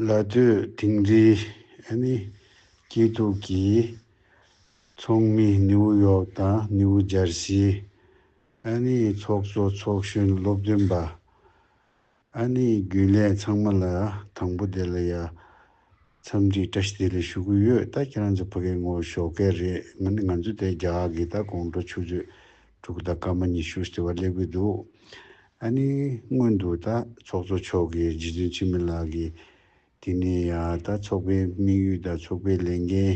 ལ་སྟོད་དིང་རི། སྐྱིད་སྡུག་གི་ཚོགས་མི་ནེའུ་ཡོག་དང་ནེའུ་འཇར་སི། ཚོགས་གཙོ་ཚོགས་གཞོན་སློབ་སྟོན་པ། རྒྱུན་ལས་ཚང་མ་ལ་དང་པོ་དེ་ལ་ཡ། འཚམས་འདྲི་བཀྲ་ཤིས་བདེ་ལེགས་ཞུ་གི་ཡོད་ད་ཁྱེད་རང་ཚོ་ཕ་གའི་ངོ་ཞོག་སྐད་རེད་ང་ནི་ང་ཚོ་དེ་རྒྱ་གར་གི་ད་དགོང་དྲོ་ཆུ་ཚོད་དྲུག་དང་སྐར་མ་ཉི་ཤུར་ཟེར་བ་སླེབས་གི་འདུག་ཨ་ནི་སྔོན་དུ་ད་ཚོགས་གཙོ་མཆོག་གིས་རྗེ་བཙུན་འཆི་མེད་ལགས་ཀྱིས་དེ་ནས་ཡ་ད་ཚོགས་པའི་དམིགས་ཡུལ་དང་ཚོགས་པའི་ལས་འགན་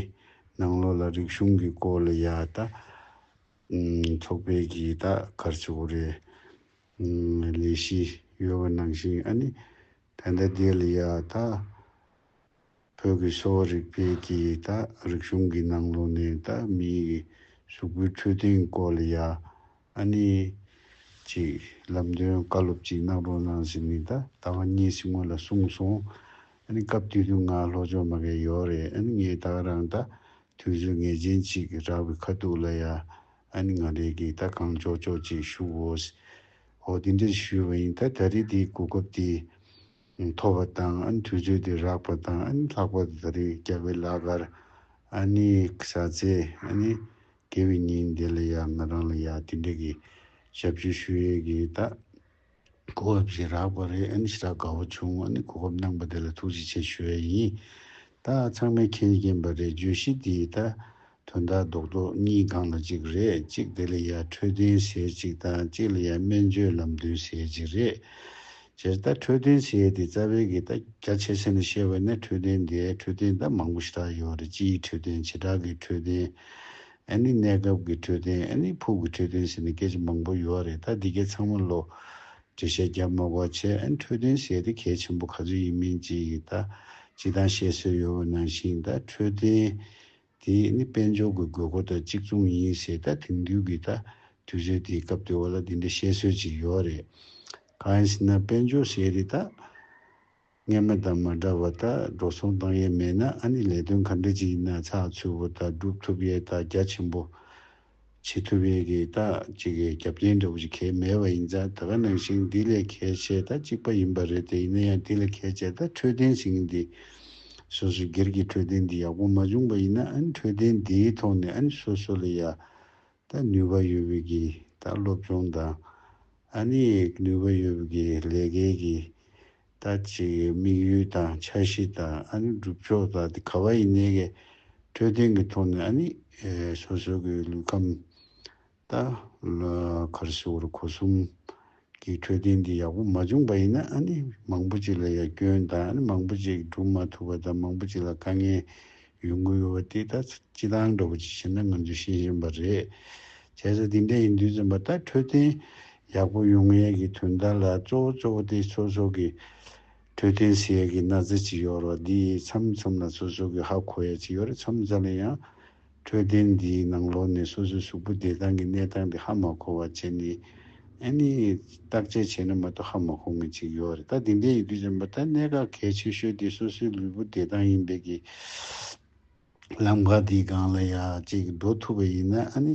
ནང་ལོགས་ལ་རིག་གཞུང་གི་སྐོར་ལ་ཡ་ད་ཚོགས་པའི་གིས་ད་གར་བྱེད་དགོས་རེད། ལས་བཞི་ཡོད་པ་ནང་བཞིན་ཨ་ནི་བྷན་དྷ་རྡེ་ལི་ཡ་དག་བོད་ཀྱི་གསོ་བ་རིག་པའི་གྱི་དག་རིག་གཞུང་གི་ནང་ལོ་ནས་དག་མིའི་གི་གཟུགས་པོའི་འཕྲོད་བསྟེན་སྐོར་ལ་ཡ་ཨ་ནི་གྱི་ལམ་སྟོན་བཀའ་སློབ་ཅིག་གནང་རོགས་གནང་ཟེར་ནས་དག་ད་བ་གཉིས་སི་སྔོན་ལ་གསུངས་སོང་ཨ་ནི་སྐབས་དུས་དུས་ང་ལྷོ་ཕྱོགས་མ་གས་ཡོག་རེད་ཨ་ནི་ངས་དག་རང་དག་དུས་ཚོད་ངེས་ཅན་ཅིག་རག་པའི་ཁ་ཐུག་ལ་ཡ་ཨ་ནི་ང་རེད་གིས་ད་གང་ལྕོག་ལྕོག་ཅིག་ཞུ་འོས། ཨོ་དེ་འདྲ་ཞུས་བ་ཡིན་ད་ད་རེས་དེའི་གོ་སྐབས་དེ་ཐོབ་པ་དང་ཨ་ནི་དུས་ཚོད་དེ་རག་པ་དང་ཨ་ནི་ལྷག་པར་དུ་ད་རེས་རྒྱ་བལ་ལགས་གར་ཨ་ནི་བཟའ་ཚེ་ཨ་ནི་དགེ་བའི་ཉིན་དེ་ལ་ཡང་ང་རང་ལ་ཡང་དེ་འདྲ་གི་ཞབས་ཞུ་ཞུ་ཡས་གིས་ད། གོ་སྐབས་ཤིག་རག་པ་རེད་ཨེ་ཤི་ར་དགའ་བོ་བྱུང་ངོ་ནི་གོ་སྐབས་གནང་པ་དེ་ལ་ཐུགས་རྗེ་ཆེ་ཞུ་ཡས་ཡིན་ད་ཚང་མའི་མཁྱེན་མཁྱེན་པ་རེད་བརྗོད་གཞི་དེ་ད་དོན་དག་རྡོག་རྡོག་གཉིས་སྒང་ལ་གཅིག་རེད་གཅིག་དེ་ལ་ཡ་འཕྲོད་བསྟེན་ཟས་གཅིག་དང་གཅིག་ལ་ཡ་སྨན་བཅོས་ལམ་སྟོན་ཟས་གཅིག་རེད་སྤྱིར་ད་འཕྲོད་བསྟེན་ཟས་དེ་རྩ་བའི་གི་ད་རྒྱ་ཆེ་ས་ནས་བཤད་པ་ནས་འཕྲོད་བསྟེན་དེ་འཕྲོད་བསྟེན་ད་མང་པོ་ཞིག་ད་ཡོད་རེད་སྤྱིའི་འཕྲོད་བསྟེན་བྱེ་བྲག་གི་འཕྲོད་བསྟེན། ཨ་ནི་གནས་སྐབས་ཀྱི་འཕྲོད་བསྟེན་ཨ་ནི་ཕུགས་ཀྱི་འཕྲོད་བསྟེན་ཟེར་ནས་སྐད་ཆ་མང་པོ་ཡོད་རེད་ད་འདི་གས་ཚང་མ་ལོ། འགྲེལ་བཤད་རྒྱབ་མ་གོ་ཆེ་ཨ་ནི་འཕྲོད་བསྟེན་ཟེར་དེ་གལ་ཆེན་པོ་ག་ཚོད་ཡིན་མིན་ཅི་ཡིན་ད་ཅི་ཐང་བཤད་སྲོལ་ཡོད་པ་ནང་བཞིན་ད་འཕྲོད་བསྟེན་དེ་ཨ་ནི་དཔལ་འབྱོར་གྱི་དགོས་མཁོ་དང་གཅིག་མཚུངས་ཡིན་ཟེར་ད་དེང་དུས་ཀྱི་ད་དུས་ཚོད་དེའི་སྐབས་དེ་བ་ལ་འདི་འདྲ་བཤད་སྲོལ་ཅིག་ཡོད་རེད་གང་ཡིན་ཟེར་ན་དཔལ་འབྱོར་ཟེར་དེ་ད། གཉེར་མ་དང་མ་འདྲ་བ་དག་འགྲོ་སོང་བཏང་ཡས་མེད་ན་ཨ་ནི་ལས་དོན་ག་འདྲ་ཅིག་ཡིན་ན་ཚགས་ཚུད་པོ་དང་སྒྲུབ་ཐུབ་ཡས་དག་རྒྱ་ཆེན་པོ་བྱེད་ཐུབ་ཡས་ཀྱི་དག་ཅིག་གི་རྒྱབ་རྐྱེན་འདྲ་བོ་ཞིག་གས་མེད་པ་ཡིན་ཙང་ད་ག་ནང་བཞིན་འདི་ལས་གས་བྱས་དག་ཅིག་པ་ཡིན་པ་རེད་དེ་ཡིན་ན་ཡང་དེ་ལས་གས་བྱས་དག་འཕྲོད་བསྟེན་ཟིན་གྱི་འདི་སོ་སོའི་སྒེར་གྱི་འཕྲོད་བསྟེན་འདི་ཡག་པོ་མ་བྱུང་པ་ཡིན་ན་ཨ་ནི་འཕྲོད་བསྟེན་འདིའི་ཐོག་ནས་ཨ་ནི་སོ་སོ་ལ་ཡ་ད་ནུས་པ་ཡོད་བུ་གི་ད་སློབ་སྦྱོང་དང། ཨ་ནི་ནུས་པ་ཡོད་བུ་གི་ལས་ཀའི་གི་ད་ཅིག་དམིགས་ཡུལ་དང་འཆར་གཞི་དང་ཨ་ནི་སྒྲུབ་ཕྱོགས་དང་དེ་ག་བ་ཡིན་ནའི་གི་འཕྲོད་བསྟེན་གི་ཐོག་ནས་ཨ་ནི་སོ་སོའི་གི་ལུས་ཁམས་ད་གར་སི་བོར་གོ་གསུམ། གི་འཕྲོད་བསྟེན་འདི་ཡག་པོ་མ་བྱུང་པ་ཡིན་ན་ཨ་ནི་མང་པོ་ཅིག་ལ་ཡང་སྐྱོན་དང་ཨ་ནི་མང་པོ་ཅིག་སྒྲུབ་མ་ཐུབ་པ་དང་མང་པོ་ཅིག་ལ་དཀའ་ངལ་ཡོང་གི་ཡོད་པ་དེ་ད་སྤྱི་དང་འདྲ་པོ་ཅིག་བྱས་ན་ང་ཚོས་ཤེས་བཞིན་པ་རེད། བྱས་ཙང་དེ་འདྲ་ཡིན་དུས་ཙམ་པ་ད་འཕྲོད་བསྟེན་ཡག་པོ་ཡོང་ངེས་ཀྱི་དོན་དག་ལ་གཙོ་བོ་གཙོ་བོ་དེ་སོ་སོ་གི་འཕྲོད་བསྟེན་ཟེར་ཡས་ཀྱི་ན་ཚ་ཅིག་ཡོད་རོགས་འདི་ཡི་མཚམས་མཚམས་ལ་སོ་སོ་གི་ཧ་གོ་ཡས་ཅིག་ཡོད་རེད་མཚམས་མཚམས་ལ་ཡང། འཕྲོད་བསྟེན་འདིའི་ནང་ལོག་ནས་སོ་སོའི་གཟུགས་པོ་བདེ་ཐང་གི་གནས་སྟངས་དེ་ཧ་མ་གོ་བ་བྱས་ནས། ཨ་ནི། བརྟག་དཔྱད་བྱས་ན་མ་གཏོགས་ཧ་མ་གོ་ངེས་ཅིག་ཡོད་རེད་ད་དེ་འདྲའི་ཡི་གེ་གཞན་པ་ད་གནད་འགག་གལ་ཆེ་ཤོས་དེ་སོ་སོའི་ལུས་པོ་བདེ་ཐང་ཡིན་པའི་གི། ལམ་ཁ་དེའི་སྒང་ལ་ཡག་ཅིག་འགྲོ་ཐུབ་པ་ཡིན་ན་ཨ་ནི།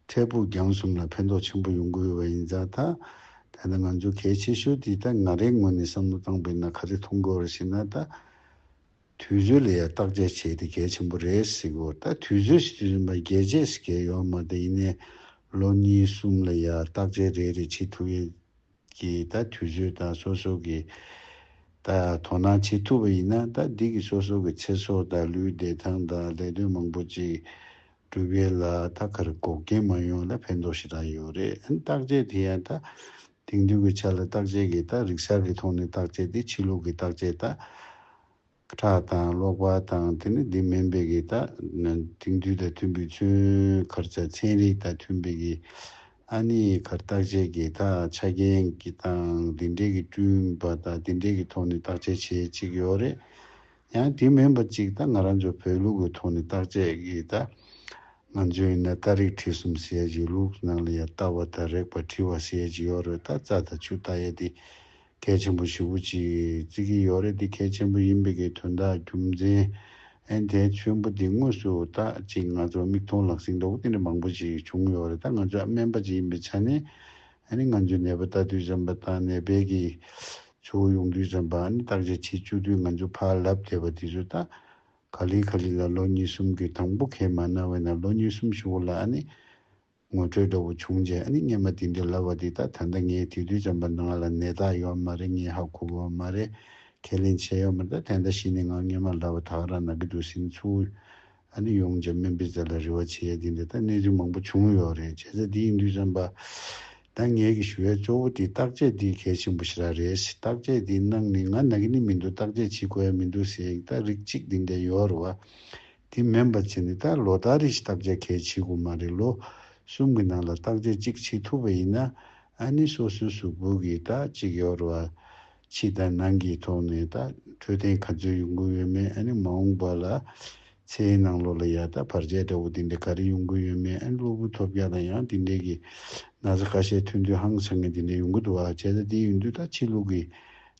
འཕྲལ་ཕུགས་རྒྱང་གསུམ་ལ་ཕན་ཐོགས་ཆེན་པོ་ཡོང་གི་ཡོད་པ་ཡིན་ཙང་ད། ད་ནི་ང་ཚོའི་གལ་ཆེ་ཤོས་དེ་ད་ང་རེའི་ངོས་ནས་བསམ་བློ་བཏང་པས་ན་ག་རེ་མཐོང་དགོས་རེད་ཞེ་ན་ད། དུས་ཚོད་ལ་ཡང་བརྟག་དཔྱད་བྱས་ཏེ་གལ་ཆེན་པོ་རེད་ཟེར་གོ་ད་དུས་ཚོད་ཞིག་རིམ་པར་རྒྱལ་རྗེས་སུ་གས་ཡོང་མ་ད་ཡིན་ནའི་ལོ་གཉིས་གསུམ་ལ་ཡང་བརྟག་དཔྱད་རེ་རེ་བྱེད་ཐུབ་ཡོད་ཀྱི་ད་དུས་ཚོད་དང་སོ་སོ་གས་ད་དོ་སྣང་བྱེད་ཐུབ་པ་ཡིན་ན་ད་འདི་གི་སོ་སོ་གི་ཚེ་སྲོག་དང་ལུས་བདེ་ཐང་དང་ལས་དོན་མང་པོ་ཅིག་སྒྲུབ་ཡོད་ལ་ད་གར་འགོག་རྐྱེན་མ་ཡོང་ལ་ཕན་ཐོག་ཞེ་དྲག་ཡོད་རེད་ཨན་བརྟག་དཔྱད་དེ་ཡང་ད་དེང་དུས་ཀྱི་ཆ་ལ་བརྟག་དཔྱད་ཀྱི་སྟག་རིག་གསར་གྱི་ཐོག་ནས་བརྟག་དཔྱད་དེ་ཕྱི་ལུགས་ཀྱི་བརྟག་དཔྱད་སྟག། ཁྲག་དང་གློག་པ་དང་དེ་ནི་དེ་མིན་པའི་གྱི་སྟག། དེང་དུས་དང་མཐུན་པའི་མཚོན་མཁར་ཆ་ཚན་རིག་དང་མཐུན་པའི་གྱི། ཨ་ནི་ཁར་བརྟག་དཔྱད་ཀྱི་སྟག་ཆ་རྐྱེན་གྱི་དང་དེ་འདྲའི་གྱི་བསྐྲུན་པ་དང་དེ་འདྲའི་གྱི་ཐོག་ནས་བརྟག་དཔྱད་བྱེད་ཅིག་ཡོད་རེད། ཡང་དེ་མིན་པ་ཅིག་ད་ང་རང་ཚོའི་བོད་ལུགས་ཀྱི་ཐོག་ནས་བརྟག་དཔྱད་ཀྱིས་ད་ང་ཚོས་ཡིན་ན་རྟ་རིགས་ཁྲི་གསུམ་ཟས་བྱེད་ལུགས་ནང་ལ་ཡང་རྟ་བ་དང་རེག་པ་ཁྲི་བ་ཟས་བྱེད་ཡོད་རེད་ད་རྩྭ་དང་ཆུ་རྟ་ཡ་དེ་གལ་ཆེན་པོ་ཞི་བོ་ཅིག་བརྩི་གི་ཡོད་རེད་དེ་གལ་ཆེན་པོ་ཡིན་པའི་གི་དོན་དག་རྒྱུ་མཚན་ཨན་དེ་ཆོན་པོ་དེ་དངོས་སུ་ད་ཅིག་ང་ཚོ་མིག་མཐོང་ལག་ཟིན་མདོག་དེ་འདྲ་མང་པོ་ཞིག་བྱུང་ཡོད་རེད་ད་ང་ཚོས་ཨ་སྨན་པ་ཅིག་ཡིན་པའི་ཆ་ནས་ཨ་ནི་ང་ཚོས་ནད་པ་ལྟ་དུས་བྱམས་པ་དང་ནད་པའི་གི་ཆུ་བོ་ཡོངས་འདུས་ཙམ་པ་ནི་བརྟག་དཔྱད་བྱེད་བཅུག་དུས་ང་ཚོས་ཕར་ལབ་བསྡད་པ་དེ་ཚོ་དང། ག་ལི་ག་ལི་ལ་ལོ་གཉིས་གསུམ་གྱི་དང་པོ་ཁས་མ་གནང་བས་ན་ལོ་གཉིས་གསུམ་ཞུ་བ་ལ་ཨ་ནི། ངོ་སྤྲོད་འདྲ་བོ་བྱུང་རྗེས་ཨ་ནི་སྙན་པ་དེ་འདྲ་ལབ་བ་དེ་དག་ད་ལྟ་ངས་དེ་དུས་ཙམ་པ་ནང་ལ་ནད་རྟགས་ཡོད་མ་རེད་ངས་ཧ་གོ་བ་མ་རེད། ཁས་ལེན་བྱས་ཡོད་མ་རེད་ད་དེ་འདྲ་བྱས་ནས་ངང་སྙན་མ་ལབ་བ་དག་ར་ན་གི་འདུག་ཟིན་ཚུལ། ཨ་ནི་ཡོངས་ཀྱི་སྨན་པའི་རྩལ་ལ་རེ་བ་ཆེ་ཡ་དེ་འདི་ལྟར་གནས་ཚུལ་མང་པོ་བྱུང་ཡོད་རེད་བྱས་ཚད་འདི་ཡིན་དུས་བསམ་པ། ད་ངས་གི་ཞུ་བའི་གཙོ་བོ་དེ་བརྟག་དཔྱད་དེ་གལ་ཆེན་པོ་ཞིག་རག་རེད་བརྟག་དཔྱད་དེ་གནང་ནི་ང་ན་གི་ནི་མི་འདུག་བརྟག་དཔྱད་བྱེད་དགོས་ཡ་མི་འདུག་ཟེར་ཡིག་ཐག་རིགས་གཅིག་དེ་འདྲ་ཡོད་རེད་བ། དེ་མིན་པ་བྱས་ནི་ད་ལོ་ད་རེས་བརྟག་དཔྱད་གལ་ཆེ་དགོས་མ་རེད་ལོ་གསུམ་གི་ནང་ལ་བརྟག་དཔྱད་གཅིག་བྱེད་ཐུབ་པ་ཡིན་ན་ཨ་ནི་སོ་སོའི་གཟུགས་པོ་གི་ད་གཅིག་ཡོད་རེད་བ། ཕྱི་དང་ནང་གི་ཐོག་ནས་ད་འཕྲོད་བསྟེན་ག་ཚོད་ཡོང་གི་ཡོད་མེད་ཨ་ནི་མ་འོངས་པ་ལ་ཚེའི་ནང་ལོ་ལ་ཡ་ད་བར་ཆད་འདྲ་བོ་དེ་འདྲ་ག་རེ་ཡོང་གི་ཡོད་མེད་ཨ་ནི་སློབ་བུ་ཐོབ་རྒྱ་དང་ཡང་དེ་འདྲའི་གི་ན་ཚ་ཁ་ཤས་ཐོན་དུས་ཧང་སང་ངན་དེ་འདྲ་ཡོང་གི་འདུག་བ་བྱས་ད་དེ་ཡོང་དུས་ད་ཕྱི་ལུགས་ཀི་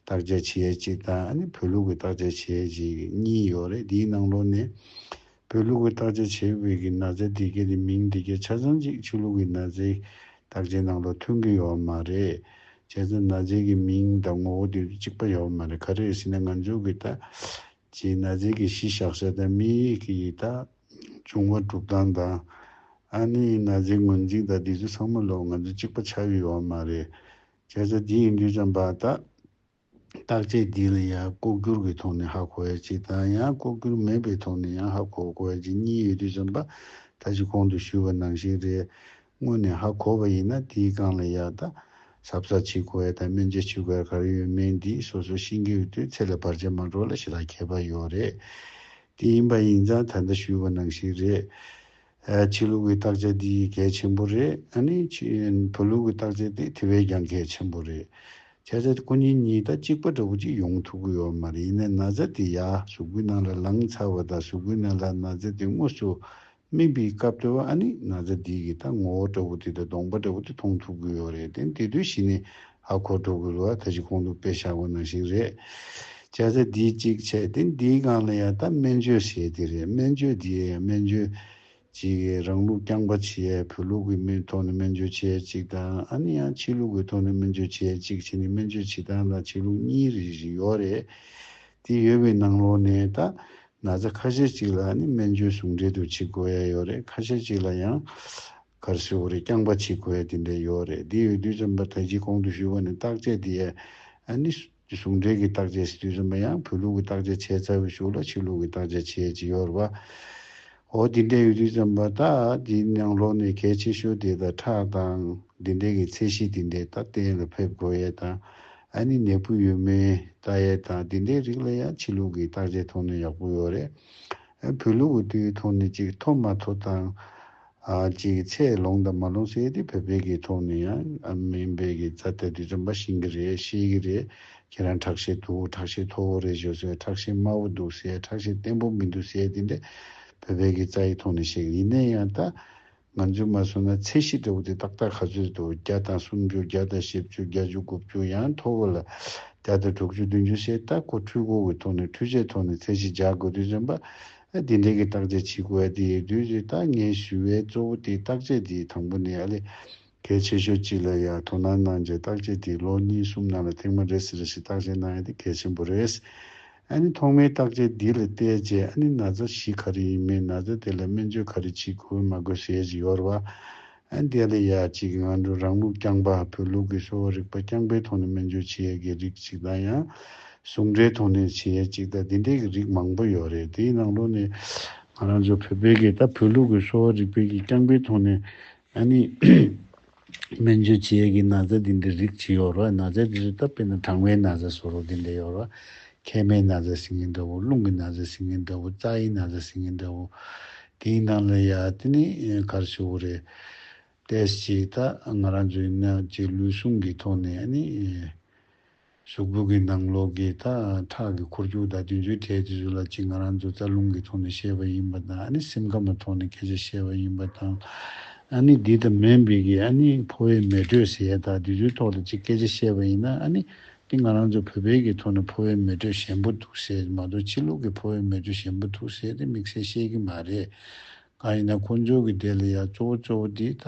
བརྟག་དཔྱད་བྱེད་ཡས་གཅིག་དང་ཨ་ནི་བོད་ལུགས་ཀི་བརྟག་དཔྱད་བྱེད་ཡས་གཅིག་གཉིས་ཡོད་རེད་དེའི་ནང་ལོ་ནས་བོད་ལུགས་ཀྱི་བརྟག་དཔྱད་བྱེད་འོས་ཀྱི་ན་བཟའི་དེ་སྐད་དེ་མིང་དེ་སྐད་ཆ་ཚང་གཅིག་ཆོས་ལུགས་ཀྱི་ན་བཟའི་བརྟག་དཔྱད་ནང་ལ་ཐོན་གྱི་ཡོད་མ་རེད། བྱས་ཙང་ན་བཟའི་གི་མིང་དང་ངོ་བོ་དེ་དུས་གཅིག་པ་ཡོད་མ་རེད་ག་རེད་ཟེར་ན་ང་ཚོས་གི་ད་ཅི་ན་བཟའི་གི་གཞི་བཞག་ས་དང་མི་ཡིག་གི་ཡིག་ད་བྱུང་བ་གྲུབ་སྟངས་དང། ཨ་ནི་ན་བཟའི་ངོས་འཛིན་ད་དེ་དུས་ཚང་མ་ལོག་ང་ཚོ་གཅིག་པ་ཆགས་ཡོད་མ་རེད། བྱས་ཙང་དེ་ཡིན་དུས་ཙང་བ་ད། བརྟག་དཔྱད་འདི་ལ་ཡང་ལྐོག་གྱུར་གྱི་ཐོག་ནས་ཧ་གོ་བའི་གཅིག་དང་ཡང་ལྐོག་གྱུར་མེད་པའི་ཐོག་ནས་ཡང་ཧ་གོ་དགོས་བའི་གཅིག་གཉིས་ཡོད་དུས་བསམ་པ་ད་གཞི་གོང་དུ་ཞུས་པ་ནང་བཞིན་རེད། དངོས་ནས་ཧ་གོ་བ་ཡིན་ན་དེའི་སྒང་ལ་ཡག་ད་གཟབ་གཟབ་བྱེད་དགོས་བས་ད་སྨན་རྗེས་ཆུ་ཁར་ག་རེ་ཡོད་མེད་འདི་སོ་སོ་ཤེས་ཀྱི་ཡོད་དུས་ཚེ་ལ་བར་ཆད་མ་འགྲོ་ལ་ཞེ་ལ་ཁྱད་པར་ཡོད་རེད། དེ་ཡིན་པ་ཡིན་ཙང་ད་ལྟ་ཞུས་པ་ནང་བཞིན་རེད། ཆོས་ལུགས་ཀྱི་བརྟག་དཔྱད་འདི་གལ་ཆེན་པོ་རེད། བོད་ལུགས་ཀྱི་བརྟག་དཔྱད་དེ་དེ་བས་ཀྱང་གལ་ཆེན་པོ་རེད། ཁྱེད་ཅག་སྐུ་ཉིད་གཉིས་ད་གཅིག་པ་འདྲ་བོ་ཅིག་ཡོང་ཐུབ་གི་ཡོད་མ་རེད་ཡིན་ན་ན་ཚ་དེ་ཡ་གཟུགས་པོའི་ནང་ལ་ལངས་ཚར་བ་དང་གཟུགས་པོའི་ནང་ལ་ན་ཚ་དེ་དངོས་སུ་སྨིན་པའི་སྐབས་དེ་བ་ཨ་ནི་ན་ཚ་འདི་གི་ད་ངོ་བོ་འདྲ་བོ་དེ་དང་གདོང་པ་འདྲ་བོ་དེ་མཐོང་ཐུབ་གི་ཡོད་རེད་དེ་འདི་དུས་ཤིག་ནས་ཨ་ཁོ་འགྲོ་དགོས་ལུགས་ཨ་ཐ་ཅི་གོང་དུ་དཔེ་བཞག་པ་ནང་བཞིན་རེད། སྐྱ་ཚ་འདིས་གཅིག་བྱས་ཏེ་འདིའི་སྒང་ལ་ཡང་ད་སྨན་བཅོས་བྱས་དེ་རེད་སྨན་བཅོས་འདི་ཡང་སྨན་བཅོས་གཅིག་གིས་རང་ལུགས་རྐྱང་པ་བྱེད་ཡས་བོད་ལུགས་ཀྱི་མིའི་ཐོག་ནས་སྨན་བཅོས་བྱེད་ཡས་གཅིག་དང་ཨ་ནི་ཡང་ཕྱི་ལུགས་ཀྱི་ཐོག་ནས་སྨན་བཅོས་བྱེད་ཡས་གཅིག་བྱས་ནས་སྨན་བཅོས་བྱེད་སྟངས་དང་བྱེད་ལུགས་གཉིས་རེ་བཞིན་ཡོད་རེད། དེ་ཡོད་པའི་ནང་ལོགས་ནས་ད་ན་ཚ་ཁ་ཤས་གཅིག་ལ་ཨ་ནི་སྨན་བཅོས་ཟུང་འབྲེལ་དུ་བྱེད་དགོས་ཡས་ཡོད་རེད་ཁ་ཤས་གཅིག་ལ་ཡང། གར་བཞི་བོ་རེ་རྐྱང་པ་ཆིག་གོ་ཡ་དེ་འདྲ་ཡོད་རེད་དེ་ཡོད་དུས་རྩོམ་པ་དར་གྱིས་གོང་དུ་ཞུས་པ་ནི་བརྟག་དཔྱད་དེ་ཡ་ནི། ཟུང་འབྲེལ་གྱི་བརྟག་དཔྱད་བྱེད་དུས་རྩོམ་པ་ཡང་བོད་ལུགས་ཀྱི་བརྟག་དཔྱད་བྱས་ཚར་བའི་ཞོར་ལ་ཕྱི་ལུགས་ཀྱི་བརྟག་དཔྱད་བྱེད་ཀྱི་ཡོད་རེད་པ། འོ་དེ་འདྲ་ཡོད་དུས་རྩོམ་པ་ད་དེའི་ནང་ལོགས་ནས་གལ་ཆེ་ཤོས་དེ་ད་ཁྲག་དང་དེ་འདྲ་གྱི་ཚད་གཞི་དེ་འདྲས་ད་གཏན་ལ་ཕེབས་དགོས་ཡས་དང་ཡ་ནི་ནད་འབུ་ཡོད་མེད་བལྟ་ཡས་དང་དེ་འདྲའི་རིགས་ལ་ཡ་ཕྱི་ལུགས་ཀྱི་བརྟག་དཔྱད་ཐོག་ནས་ཡག་པོ་ཡོད་རེད། བོད་ལུགས་ཀྱི་དེའི་ཐོག་ནས་ཅིག་ཐོབ་མ་ཐོབ་དང། གཅིག་ཚད་ལོངས་དང་མ་ལོངས་ཟེར་དེ་བོད་པའི་གི་ཐོག་ནས་ཡང་མིན་པའི་གི་རྩ་དེ་དུས་རིམ་པ་ཤིང་གི་རེད་ཤེས་གི་རེད་ཁྱེད་རང་ཁྲག་ཤེད་འདུག་ཁྲག་ཤེད་མཐོ་བོ་རེད་ཞོ་ཟེར་ཁྲག་ཤེད་དམའ་བོ་འདུག་ཟེར་ཁྲག་ཤེད་བརྟན་པོ་མི་འདུག་ཟེར་དེ་འདྲ་བོད་པའི་གི་རྩ་ཡི་ཐོག་ནས་བཤད་གི་ཡིན་ནས་ཡང་ད་ང་ཚོས་མ་སོང་ན་ཚད་གཞི་འདྲ་བོ་དེ་ཏག་ཏག་ག་ཚོད་འདུག་བརྒྱ་དང་སུམ་ཅུ་བརྒྱ་དང་ཞེ་བཅུ་བརྒྱ་བཅུ་དགུ་བཅུ་ཡང་མཐོ་བོ་ལ་བརྒྱ་དང་དྲུག་ཅུ་བདུན་ཅུ་ཟེར་ད་ཁོ་འཕྲུལ་འཁོར་གི་ཐོག་ནས་འཕྲུལ་ཆས་ཐོག་ནས་ཚད་གཞི་འཇགས་དགོས་དུས་རིམ་པ་ཨ་དེ་འདྲས་ཀྱི་བརྟག་དཔྱད་བྱེད་དགོས་ཨ་དེ་ཡོད་དུས་ཀྱི་ལྟ་ངན་ཞུ་བའི་གཙོ་བོ་དེ་བརྟག་དཔྱད་དེའི་དང་པོ་ནས་ཨ་ལས། གལ་ཆེ་ཤོས་གཅིག་ལ་ཡང་དོ་སྣང་གནང་རྗེས་བརྟག་དཔྱད་དེའི་ལོ་གཉིས་གསུམ་ནང་ལ་ཐེངས་མ་རེ་ཟིན་རེ་བཞིན་བརྟག་དཔྱད་གནང་ཡ་དེ་གལ་ཆེན་པོ་རེད། ཨ་ནི་ཐོག་མའི་བརྟག་དཔྱད་འདི་ལ་བལྟས་རྗེས་ཨ་ནི་ན་ཚ་ཞི་ག་རེ་ཡིན་མིན་ན་ཚ་དེ་ལ་སྨན་བཅོས་ག་རེ་བྱེད་དགོས་མ་དགོས་ཞེས་ཀྱི་ཡོར་བ། ཨན་ཏེ་ལི་ཡ་གཅིག་གིས་ང་ཚོས་རང་ལུགས་རྐྱང་པ་བོད་ལུགས་ཀྱི་གསོ་བ་རིག་པ་རྐྱང་པའི་ཐོག་ནས་སྨན་བཅོས་བྱེད་ཡས་ཀྱི་རིགས་གཅིག་དང་ཡང་ཟུང་འབྲེལ་ཐོག་ནས་བྱེད་ཡས་གཅིག་དང་དེ་འདྲས་ཀྱི་རིགས་མང་པོ་ཡོད་རེད་དེའི་ནང་ལོ་ནས་ང་རང་ཚོ་བོད་པའི་གིས་ད་བོད་ལུགས་ཀྱི་གསོ་བ་རིག་པའི་ཀྱི་རྐྱང་པའི་ཐོག་ནས་ཨ་ནི་སྨན་བཅོས་བྱེད་ཡས་ཀྱི་ན་བཟའ་དེ་འདྲས་རིགས་གཅིག་ཡོད་རེད་ན་བཟའ་དེ་ཚོ་ད་དཔེར་ན་གྲང་བའི་ན་བཟའ་སོགས་རོ་དེ་འདྲས་ཡོད་རེད་མཁལ་མའི་ན་བཟའི་སིང་ངེ་འདྲ་བོ་རླུང་གི་ན་བཟའི་སིང་ངེ་འདྲ་བོ་རྩ་ཨའི་ན་བཟའི་སིང་ངེ་འདྲ་བོ། དེའི་ནང་ལ་ཡ་དེ་ནི་གར་ཆུ་བོ་རེད། དེས་ཅིག་ད་ང་རང་ཚོའི་ནད་ཀྱི་ལུས་ཟུངས་ཀྱི་ཐོག་ནས་ཨ་ནི། གཟུགས་པོ་གི་ནང་ལོགས་ཀྱི་ད་ཁྲག་གི་འཁོར་རྒྱུག་དང་དུས་ཚོད་ཐད་དུས་ཚོད་ལ་ཅིག་ང་རང་ཚོ་རྩ་རླུང་གི་ཐོག་ནས་ཤེས་པ་ཡིན་པ་དང་ཨ་ནི་སེམས་ཁམས་པ་ཐོག་ནས་སྐད་ཆ་ཤེས་པ་ཡིན་པ་དང། ཨ་ནི་འདི་ད་མེན་བིས་ཀྱི་ཨ་ནི་ཕོ་བའི་མེ་དྲོད་ཟས་དང་དུས་ཚོད་ཐོག་ལ་ཅིག་སྐད་ཆ་ཤེས་པ་ཡིན་ན་ཨ་ནི་འདི་ང་རང་ཚོའི་བོད་པའི་གི་ཐོག་ནས་ཕོ་བའི་མེ་དྲོད་ཞན་པོ་འདུག་ཟེར་གི་མ་གཏོགས་ཕྱི་ལུགས་ཀྱི་ཕོ་བའི་མེ་དྲོད་ཞན་པོ་འདུག་ཟེར་ཏེ་དམིགས་བསལ་བཤད་གི་མ་རེད། གང་ཡིན་ན་ཁོ་ཚོའི་གི་དེ་ལ་ཡང་གཙོ་བོ་གཙོ་བོ་དེ་ད་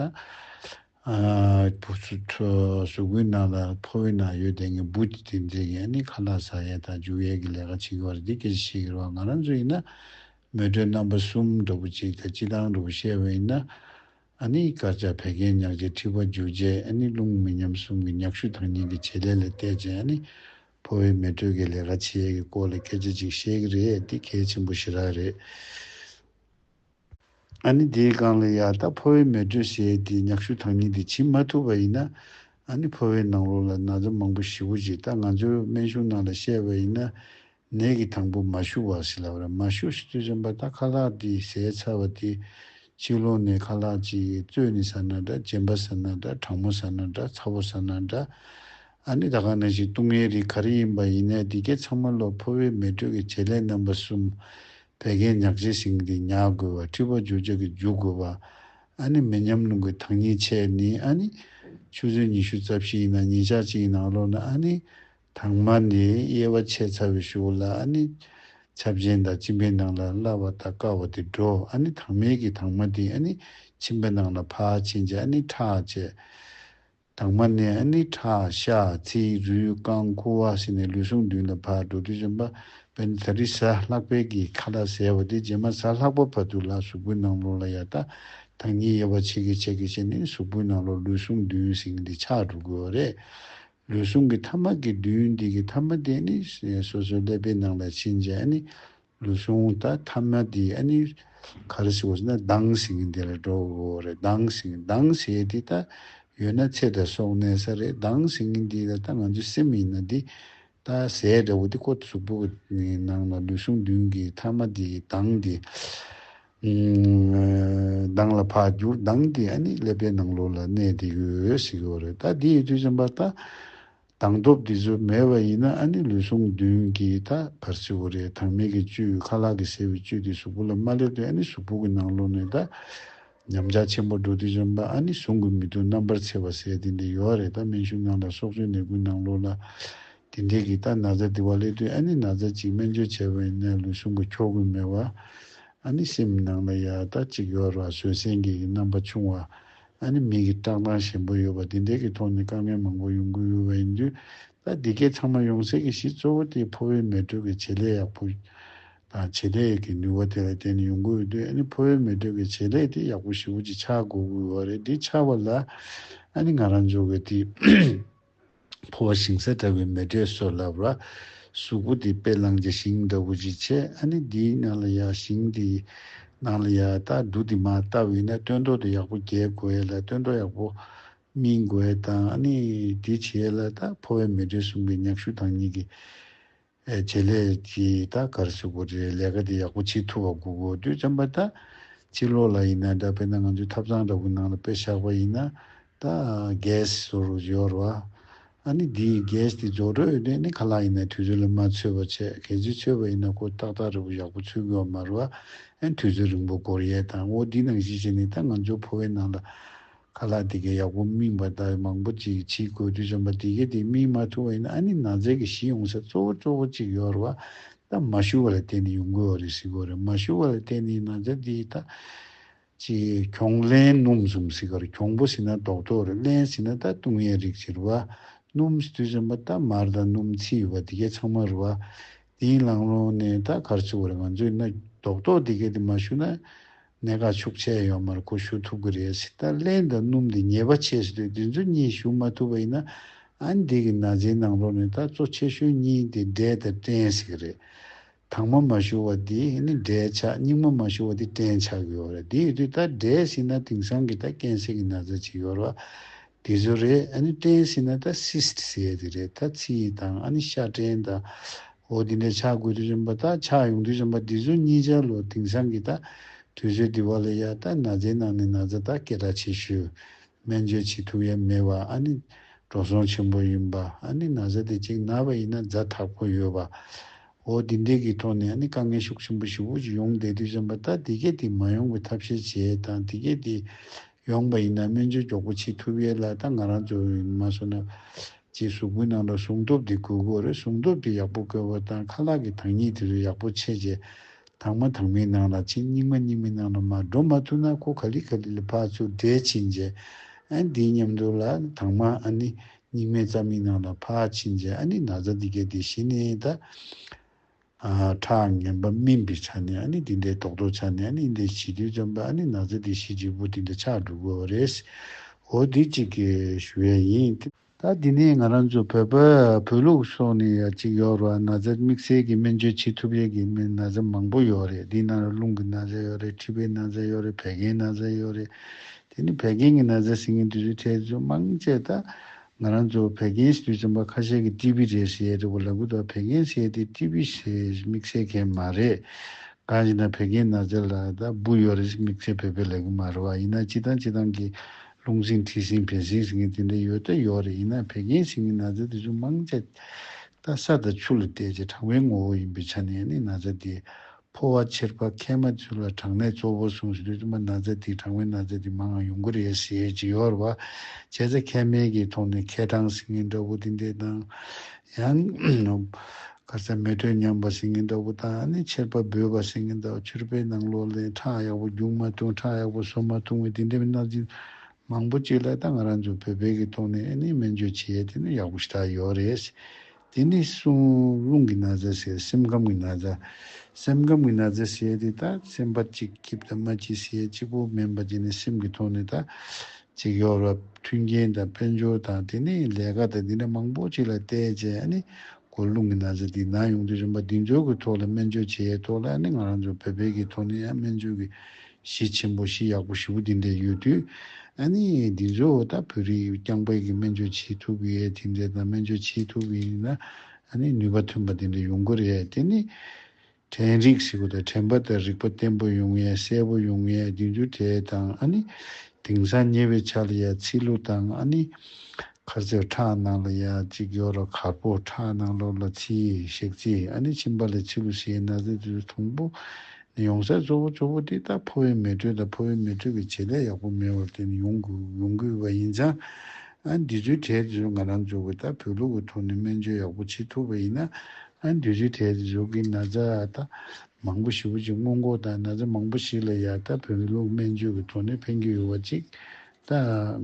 གཟུགས་པོའི་ནང་ལ་ཕོ་བའི་ནང་ཡོད་དེ་ངས་འབུ་དེ་དེ་འཛེག་ཡས་ནི་ཁ་ལག་ཟ་ཡས་དང་འཇུ་ཡས་གི་ལས་ཀ་བྱེད་གི་བར་འདི་སྐད་ཅིག་བཤད་གི་རོགས་ང་རང་ཚོ་ཡིན་ན་མེ་དྲོད་རྣམ་པ་གསུམ་འགྲོ་པོ་གཅིག་དང་སྤྱི་བཏང་འགྲོ་པོ་བཤད་བས་ཡིན་ན་ཨ་ནེའི་དཀར་ཆག་བད་ཀན་མྱགས་བྱེད་མཁྲིས་པ་འཇུ་བྱེད་ཨ་ནེ་རླུང་མི་ཉམས་གསུམ་གྱི་མྱགས་ཤུལ་དང་ཉིན་གྱི་བྱེད་ལས་ལ་གཏད་བྱེད་ཨ་ནེ། ཕོ་བའི་མེ་དྲོད་ཀྱི་ལས་ཀ་བྱེད་ཡས་ཀྱི་སྐོར་ལ་སྐད་ཆ་ཅིག་བཤད་ཀྱི་རེད་འདི་གལ་ཆེན་པོ་ཞེ་དྲག་རེད། ཨ་ནེ་དེའི་སྒང་ལ་ཡག་ད་ཕོ་བའི་མེ་དྲོད་ཟེར་ཡས་དེའི་མྱགས་ཤུལ་དང་ཉིན་དེ་བྱིན་མ་ཐུབ་པ་ཡིན་ན། ཨ་ནེ་ཕོ་བའི་ནང་ལོགས་ལ་ན་ཚ་མང་པོ་ཞི་བོ་བྱེད་ད་ང་ཚོའི་སྨན་གཞུང་ནང་ལ་བཤད་པ་ཡིན་ན། ནད་ཀྱི་དང་པོ་མ་ཞུ་བ་ཞིག་ལབ་ར་མ་ཞུ་ཞིག་ཅེས་རིམ་པར་ད་ཁ་ལག་དེའི་ཟས་ཚར་བ་དེ། ཕྱི་ལོག་ནས་ཁ་ལག་ཅིག་བཙོས་ནི་ཟ་ན་འདྲ་རྗེན་པ་ཟ་ན་འདྲ་གྲང་མོ་ཟ་ན་འདྲ་ཚ་བོ་ཟ་ན་འདྲ། ཨ་ནི་ད་ག་ནས་ཞིག་བཏུང་ངའི་རིགས་ག་རེ་ཡིན་པ་ཡིན་ནའི་འདི་གའི་ཚང་མ་ལོ་ཕོ་བའི་མེ་དྲོད་ཀྱི་བྱེད་ལས་རྣམ་པ་གསུམ། བད་ཀན་ཉག་ཆེ་ཞིང་དེ་ཉག་དགོས་བ་མཁྲིས་པ་འཇུ་ཆག་གི་འཇུ་དགོས་བ། ཨ་ནི་མི་ཉམས་རླུང་གི་དྭངས་སྙིགས་ཆད་ནི་ཨ་ནི། ཆུ་ཚོད་ཉི་ཤུ་རྩ་བཞི་ཡིན་ན་ཉིན་ཞག་གཅིག་ཡིན་ན་ཨ་ལོག་ན་ཨ་ནི། དྭངས་མ་ནི་དབྱེ་བ་ཕྱེད་ཚ་བའི་ཤུགས་བླ་ཨ་ནི། ཆ་བཞིན་དང་བཅིངས་པའི་ནང་ལ་བླ་བ་དང་དཀར་བ་དེ་འགྲོ་ཨ་ནི་དྭངས་མའི་གི་དྭངས་མ་དེ་ཨ་ནི། ཕྱིན་པའི་ནང་ལ་ཕག་ཕྱིན་ཅད་ཨ་ནི་ཁྲག་བཅས། དྭངས་མ་ནི་ཨ་ནི་ཁྲག་ཤ་ཚིལ་རུས་རྐང་ཁུ་བ་ཤི་ནས་ལུས་ཟུངས་བདུན་ལ་ཕག་འགྲོ་དུས་གཞོན་པ་བས་ནི་ད་རི་ཟ་ལྷག་པའི་གི་ཁ་ལ་ཟེར་བ་དེ་རྗེས་མ་ཟ་ལྷག་པ་བར་དུ་ལ་གཟུགས་པོའི་ནང་ལོགས་ལ་ཡར་ད་དྭངས་སྙིགས་དབྱེ་བ་ཕྱེད་ཀའི་ཕྱེད་ཀའི་ཕྱེད་ནི་གཟུགས་པོའི་ནང་ལོགས་ལུས་ཟུངས་བདུན་ཟིང་འདི་ཆགས་འགྲོ་དགོས་བ་རེད། ལུས་ཟུངས་ཀྱི་ཐ་མ་དགེ་འདུན་འདི་ཀྱི་ཐ་མ་དེ་ནི་སོ་སོའི་ཀླད་པའི་ནང་ལ་ཕྱིན་རྗེས་ལུས་ཟུངས་དང་ཐ་མ་དེ་ག་རེ་ཞིག་ཡོད་ན་ལྡང་ཞིང་དེ་ལ་འགྲོ་བའོ་རེད་ལྡང་ཞིང་ལྡང་བྱེད་དེ་ད་ཡོད་ན་ཚེ་དང་སྲོག་གནས་ས་རེད་ལྡང་ཞིང་འདི་ལ་ད་ང་ཚོའི་སེམས་ཡིན་ན་འདི་ད་ཟས་འདྲ་བོ་དེ་ཁོ་གཟུགས་པོ་གི་ནང་ལ་ལུས་ཟུངས་བདུན་གྱི་ཐ་མ་དེ་ལྡང་སྟེ་གདངས་ལ་འཕགས་འགྱུར་གདངས་ཀྱི་ཨ་ནི་ཀླད་པའི་ནང་ལོགས་ལ་གནས་དེ་གི་འོད་ཟེར་གྱི་འོ་རེད་ད་དེ་ཡི་དུས་ཙམ་པར་ད་གདངས་སྟོབས་དེ་ཚོ་མེད་པ་ཡིན་ན་ཨ་ནི་ལུས་ཟུངས་བདུན་གྱི་ད་བར་སྲིད་འོ་རེད་དྭངས་མེད་ཀྱི་བཅུད་ཁ་ལག་གི་ཟེར་བའི་བཅུད་དེ་གཟུགས་པོ་ལ་མ་སླེབས་དུས་ཨ་ནི་གཟུགས་པོ་གི་ནང་ལོགས་ནས་ད་ཉམས་ཆག་ཆེན་པོ་འགྲོ་དུས་ཙམ་པར་ཨ་ནི་ཟུངས་གི་མི་ཐུག་རྣམ་པར་ཚེས་པ་ཟེར་དེ་འདི་ཡོ་རེད་ད་སྨན་ཤུགས་ནང་ལ་སྲོག་རྩོལ་ནད་ཀུན་ནང་ལོགས་ལ་དེ་འབྲེལ་གྱི་རྟ་ན་རྫ་དི་བ་ལེ་དུས་ཨ་ནི་ན་རྫ་གཅིག་སྨན་བཅོས་བྱས་པ་ཡིན་ནའི་ལུས་ཟུངས་ཀྱི་འཁྱོག་རྒུད་མེད་པ། ཨ་ནི་སེམས་ནང་ལ་ཡ་རྟ་གཅིག་ཡོད་ར་བཟོད་བསྲན་གྱི་གི་རྣམ་པ་ཆུང་བ། ཨ་ནི་མིག་གི་བཀྲག་མདངས་ཞན་པོ་ཡོད་པ་དེ་འབྲེལ་གྱི་ཐོག་ནས་དཀའ་ངལ་མང་པོ་ཡོང་གི་ཡོད་པ་ཡིན་དུས་རྟ་དེ་གས་ཚང་མ་ཡོང་སའི་གི་གཞི་གཙོ་བོ་དེ་ཕོ་བའི་མེ་དྲོད་ཀྱི་བྱེད་ལས་ཡག་པོ་དང་བྱེད་ལས་ཀྱི་ནུས་བ་དེ་ལ་བརྟེན་ནས་ཡོང་གི་ཡོད་དུས་ཨ་ནི་ཕོ་བའི་མེ་དྲོད་ཀྱི་བྱེད་ལས་དེ་ཡག་པོ་ཞི་བོ་ཅིག་ཆགས་དགོས་གི་ཡོད་རེད་དེ་ཆགས་པ་ལ་ཨ་ནི་ང་རང་འཇོག་གི་དེ་འཕོ་བ་ཞིང་ས་དྲ་བའི་མེ་སྒྲས་གསོས་ལབ་ལ། གཟུགས་པོ་འདི་དཔེ་བླངས་ཀྱི་ཞིང་འདྲ་བོ་ཅིག་བྱས་ཨ་ནི་འདིའི་ནང་ལ་ཡ་ཞིང་འདི་ནང་ལ་ཡ་ད་འདུག་འདི་མ་ལྟ་བས་ན་སྟོན་ཐོག་ཏུ་ཡག་པོ་རྒྱས་དགོས་ལ་སྟོན་ཐོག་ཡག་པོ་སྨིན་དགོས་དང་ཨ་ནི་འདི་བྱས་ལ་ད་འཕོ་བའི་མེ་སྒྲས་གསུམ་གའི་མྱག་ཤུ་དང་གཉིས་ཀྱི། ཨེ་བྱེད་ལས་ཀྱི་ད་གར་ཞུགས་པོ་རེད་ལས་ཀ་དེ་ཡག་པོ་བྱེད་ཐུབ་པ་དགོས་གོ་དུས་ཙམ་པ་ད་ཕྱི་ལོག་ལ་ཡིན་ན་འདྲ་དཔེར་ན་ང་ཚོའི་ཐབ་ཚང་འདྲ་པོའི་ནང་ལ་དཔེ་བཞག་པ་ཡིན་ན་ད gas བཟོ་རུ་གཞོལ་བ་ཨ་ནི་དེ gas དེ་བཟོ་སྤྲོད་ཨེ་འདོད་ནི་ཁ་ལག་ཡིན་ན་དུས་ཚོད་ལ་མ་ཚོད་པ་བྱས་གལ་སྲིད་ཚོད་པ་ཡིན་ན་ཁོ་ཏག་ཏག་རི་བོ་ཡག་པོ་ཚུད་དགོས་བ་མ་རུ་ཨ་ཨེ་དུས་ཚོད་རིང་པོ་འགོར་ཡས་དང་འོ་དེ་ནང་བཞིན་བྱས་ནས་ད་ང་ཚོའི་ཕོ་བའི་ནང་ལ། ཁ་ལག་འདི་གས་ཡག་པོ་སྨིན་པར་ལྟ་བའི་མང་པོ་ཅིག་ཕྱིའི་གོས་དུད་འཇོམས་པ་འདི་གས་དེ་སྨིན་མ་ཐུབ་བས་ན་ཨ་ནི་ན་ཚད་ཀྱི་གཞི་ཡོང་ས་གཙོ་བོ་གཙོ་བོ་ཅིག་ཡོད་རེད་བ་ད་མ་ཞུ་བ་ལ་བརྟེན་ནས་ཡོང་དགོས་བ་རེད་གཟིགས་དགོས་རེད་མ་ཞུ་བ་ལ་བརྟེན་ནས་ན་ཚད་འདི་ད་ཅི་གྱོང་ལན་སྣུམ་ཟུམ་གཟིགས་ག་རེད་གྱོང་པོ་ཟིན་ན་རྡོག་རྡོག་རེད་བརླན་ཟིན་ན་ད་བཏུང་ཡས་རིགས་ཅིག་རེད་བ་སྣུམ་གསི་དུད་འཇོམས་པ་ད་མར་ད་སྣུམ་ཚི་ཡོད་པ་འདི་གས་ཚང་མ་རེད་བ་དེའི་ལང་ལོང་ནས་ད་གར་ཚུད་བ་རེད་ང་ཚོས་ན་རྡོག་རྡོག་འདི་གས་དེ་མ་ཞུ་ན་གནད་འགག་ཤུགས་ཆེ་ཡོད་མར་གོ་ཞུ་ཐུབ་ཀྱི་རེད་ཕྱི་དར་ལེན་དང་སྣུམ་དེ་ཉེས་པ་ཆེ་ཞེས་དུས་ཚོད་གཉིས་ཞུ་མ་ཐུབ་པ་ཡིན་ན་ཨན་འདི་གི་ན་ཟིའི་ནང་ལོག་ནས་ད་གཙོ་ཆེ་ཤོས་གཉིས་དེ་འབྲས་དང་སྐྲན་ཟེར་གྱི་རེད། དྭངས་མ་མ་ཞུ་བ་དེ་ནི་འབྲས་ཆགས་སྙིགས་མ་མ་ཞུ་བ་དེ་སྐྲན་ཆགས་ཀྱི་ཡོད་རེད་དེ་ཡོད་དུས་ད་འབྲས་ཞིག་ན་དེང་སང་གི་ད་སྐྱེན་སྲིད་ཀྱི་ན་ཟ་ཅིག་ཡོད་རེད་བ། དེ་ཚོ་རེད་ཨ་ནི་སྐྲན་ཟེར་ན་ད Cyst ཟེར་དེ་རེད་ད་ཚི་ཡི་དང་ཨ་ནི་ཤ་སྐྲན་ད། འོ་དེ་འདྲ་ཆགས་དགོས་དུས་རིམ་པ་ད་ཆགས་ཡོང་དུས་རིམ་པ་འདི་ཚོ་གཉིས་ཆ་ལོ་དེང་སང་གི་ད་དུས་ཚོད་འདི་བ་ལ་ཡ་ད་ན་ཚའི་ནང་ནས་ན་ཚ་ད་སྐད་གྲགས་ཆེ་ཤོས། སྨན་བཅོས་བྱེད་ཐུབ་ཡ་མེད་བ་ཨ་ནི། འགྲོ་སོང་ཆེན་པོ་ཡིན་པ་ཨ་ནི་ན་ཚ་དེ་གཅིག་ན་བ་ཡིན་ན་རྫ་དྲག་པོ་ཡོད་བ། འོ་དེ་འདྲས་གི་ཐོག་ནས་ཨ་ནི་དཀའ་ངལ་ཤུགས་ཆེན་པོ་ཞིག་དབུ་ཅིག་ཡོང་བསྡད་དུས་རིམ་པ་ད་དེ་སྐད་དེ་མ་ཡོང་བའི་ཐབས་ཤེས་བྱས་དང་དེ་སྐད་དེ། ཡོང་པ་ཡིན་ན་སྨན་བཅོས་མགྱོགས་པོ་བྱེད་ཐུབ་ཡས་ལ་ད་ང་རང་གཙོ་བོ་ཡིན་མ་སོང་ན། ཅེས་གཟུགས་པོའི་ནང་ལ་སྲུང་སྟོབས་དེ་དགོས་དགོས་རེད་སྲུང་སྟོབས་དེ་ཡག་པོ་དགོས་པ་དང་ཁ་ལག་གི་དྭངས་སྙིགས་དེ་ཚོ་ཡག་པོ་ཕྱེ་རྗེས་དྭངས་མ་དྭངས་མའི་ནང་ལ་ཕྱིན་སྙིགས་མ་སྙིགས་མའི་ནང་ལ་མ་འགྲོ་མ་ཐུབ་ན་ཁོ་ག་ལི་ག་ལི་ལ་ཕར་ཚུར་བསྒྲལ་ཕྱིན་རྗེས་ཨ་འདིའི་ཉམས་འདོར་ལ་དྭངས་མ་ཨ་ནི་སྙིགས་མའི་རྩ་མིག་ནང་ལ་ཕར་ཕྱིན་རྗེས་ཨ་ནི་ན་ཚ་འདི་གས་འདི་ཞི་ནས་ད། ཁྲག་ངན་པ་སྨིན་པའི་ཆ་ནས་ནི་དེ་འདྲའི་དོགས་དོགས་ཆ་ནས་ནི་འདི་ཞི་དུལ་འཇམ་པའི་ནགས་ཚལ་དེ་ཞི་གཅིག་པུ་དེ་འདྲ་ཆགས་འགྲོ་དགོས་བ་རེད། འོ་དེ་གཅིག་གིས་བས་ཡིན། ད་འདི་ནས་ང་རང་ཚོ་བོད་པ་བོད་ལུགས་སོགས་ནས་ཡ་གཅིག་ཡོག་རོ་ཨ་ན་ཚ་དམིགས་བསལ་གྱི་སྨན་བཅོས་བྱེད་ཐུབ་ཡས་ཀྱི་སྨན་ན་ཚ་མང་པོ་ཡོག་རེད་དེ་ནང་ར་རླུང་གི་ན་ཚ་ཡོག་རེད་མཁྲིས་པའི་ན་ཚ་ཡོག་རེད་བད་ཀན་ན་ཚ་ཡོག་རེད་དེ་ནི་བད་ཀན་གྱི་ན་ཚ་ཟེར་མཁན་དེ་ཚོའི་ཐད་ཚོ་དམངས་ཆད་ད་ང་རང་ཚོ་བད་ཀན་ཞི་དུལ་ཚན་པ་ཁ་ཤས་ཀྱི་ཀྲི་པི་རེད་ཞེས་རེ་བ་ལ་གུ་དོག་བད་ཀན་བཤད་དེ་ཀྲི་པི་ཞེས་མིག་བཤད་མཁན་མ་རེད། གང་ཞིག་ན་བད་ཀན་ན་ཚ་ལ་ད་སྦུ་ཡོད་རེད་ཞེས་མིག་བྱེད་བོད་པའི་ལས་ཀུན་མ་རེད་བ་ཡིན་ན་ཅི་དང་ཅི་དང་གིས་རླུང་སྲིན་མཁྲིས་སྲིན་བད་སྲིན་ཟེར་མཁན་དེ་འདྲ་ཡོད་ད་ཡོད་རེད་ཡིན་ན་བད་ཀན་ཞིག་ནི་ན་ཚ་དེ་ཚོ་མང་ཆ་ད་ས་དང་ཆུ་ལ་བལྟས་ཀྱི་གྲང་བའི་ངོ་བོ་ཡིན་པའི་ཆ་ནས་ནི་ན་ཚ་དེ་ཕོ་བ་ཆེར་པ་ཁས་མ་ཆུ་ལ་གྲང་ནད་གཙོ་བོ་ཟུངས་ཤིང་རིགས་དུ་མ་ན་ཚ་དེའི་གྲང་བའི་ན་ཚ་དེ་མང་ཡང་ཡོང་གི་རེད་ཟེར་ཡས་ཇི་ཡོར་བ། བྱས་ཙེ་ཁས་མེད་ཀྱི་ཐོག་ནས་ཁས་གྲང་ཟིང་ངེ་འདྲ་བོ་དེ་འདེད་དང། ཡང། གར་ས་མེ་དྲོད་ཉམས་པ་ཟིང་ངེ་འདྲ་བོ་དང་ཨ་ནི་ཆེར་པ་སྦོས་པ་ཟིང་ངེ་འདྲ་བོ་ཆུར་པའི་ནང་ལོག་ལས་ཁྲག་ཡག་པོ་རྒྱུག་མ་ཐུང་ཁྲག་ཡག་པོ་ཟོ་མ་ཐུང་བའི་དེ་འདྲ་བའི་གནག་ཅིང་མང་པོ་བཅས་ལ་ད་ང་རང་ཚོ་བོད་པའི་གི་ཐོག་ནས་ཨ་ནི་སྨན་བཅོས་བྱེད་ཡས་དེ་ནི་ཡག་པོ་ཞིག་ད་ཡོར་རེད། དེ་ནས་བཟུང་རླུང་གི་ན་བཟའ་ཟེར་སེམས་ཁམས་ཀྱི་ན་བཟའ། སེམས་ཁམས་ཀྱི་ན་བཟའ་ཟས་དེ་དག་སེམས་པ་གཅིག་སྐྱིད་དང་མ་སྐྱིད་ཟས་གཅིག་པོ་སྨན་པ་བརྒྱད་ནས་སེམས་ཀྱི་ཐོག་ནས་དག་ཅིག་ཡོ་རབས་མཐུན་རྐྱེན་དང་དཔལ་འབྱོར་དང་དེ་ནས་ལས་ཀ་དང་འདི་འདྲ་མང་པོ་ཅིག་ལ་བལྟས་རྗེས་ཨ་ནི་གོ་རླུང་གི་ན་བཟའ་འདི་ན་ཡོང་དུས་རིམ་པ་འདི་འབྱོར་གྱི་ཐོག་ལ་སྨན་བཅོས་བྱས་ཐོག་ལ་ཨ་ནི་ང་རང་ཚོ་བོད་པའི་གི་ཐོག་ནས་ཡང་སྨན་བཅོས་ཀྱི་གཞི་ཆེན་པོ་གཞི་ཡག་པོ་བཞི་པོ་འདི་འདྲ་ཡོད་དུས། ཨ་ནི། འདི་ཚོས་ད་བོད་རིགས་རྐྱང་པས་ཀྱི་སྨན་བཅོས་བྱེད་ཐུབ་ཀྱི་ཡད་དེ་འདྲས་དང་སྨན་བཅོས་བྱེད་ཐུབ་ཀྱི་ཡིན་ན། ཨ་ནི་ནུས་པ་ཐོན་པ་འདི་འདྲ་ཡོང་དགོས་རེད་དེ་ནི། དྲན་རིག་ཟེར་གོ་ད་དྲན་པ་དང་རིག་པ་བརྟན་པོ་ཡོང་ཡད་གསལ་པོ་ཡོང་ཡད་དུས་འགྱུར་དེ་དང་ཨ་ནི། དེང་སང་ཉེ་བའི་ཆ་ལ་ཡད་ཚིག་ལུ་དང་ཨ་ནི། ཁར་རྩེ་ཁྲག་ནང་ལ་ཡད་ཅིག་ཡོད་ར་གར་པོ་ཁྲག་ནང་ལོག་ལ་ཚིལ་ཞག་ཚིལ་ཨ་ནི་ཕྱིན་པ་ལ་ཚིལ་ལུ་ཟེར་ན་ཟེར་དུས་དུང་པོ། ཡོང་སའི་གཙོ་བོ་གཙོ་བོ་དེ་ལྟར་ཕོ་བའི་མེ་དྲོད་དང་ཕོ་བའི་མེ་དྲོད་ཀྱི་བྱེད་ལས་ཡག་པོ་མེད་བར་བརྟེན་ནས་ཡོང་དགོས་པ་ཡིན་ཙང། འདི་ཚོའི་གྲས་དེ་ཚོ་ང་རང་ཚོ་གི་ལྟར་བོད་ལུགས་ཀྱི་ཐོག་ནས་སྨན་བཅོས་ཡག་པོ་བྱེད་ཐུབ་པ་ཡིན་ན། འདི་ཚོའི་གྲས་དེ་ཚོ་གི་ན་ཚ་དང་མང་པོ་ཞིག་བུ་ཅིག་སྔོན་འགོག་དང་ན་ཚ་མང་པོ་ཞིག་ལ་ཡར་ལྟ་བོད་ལུགས་སྨན་བཅོས་ཀྱི་ཐོག་ནས་ཕན་གྱི་ཡོད་པ་ཅིག་ད་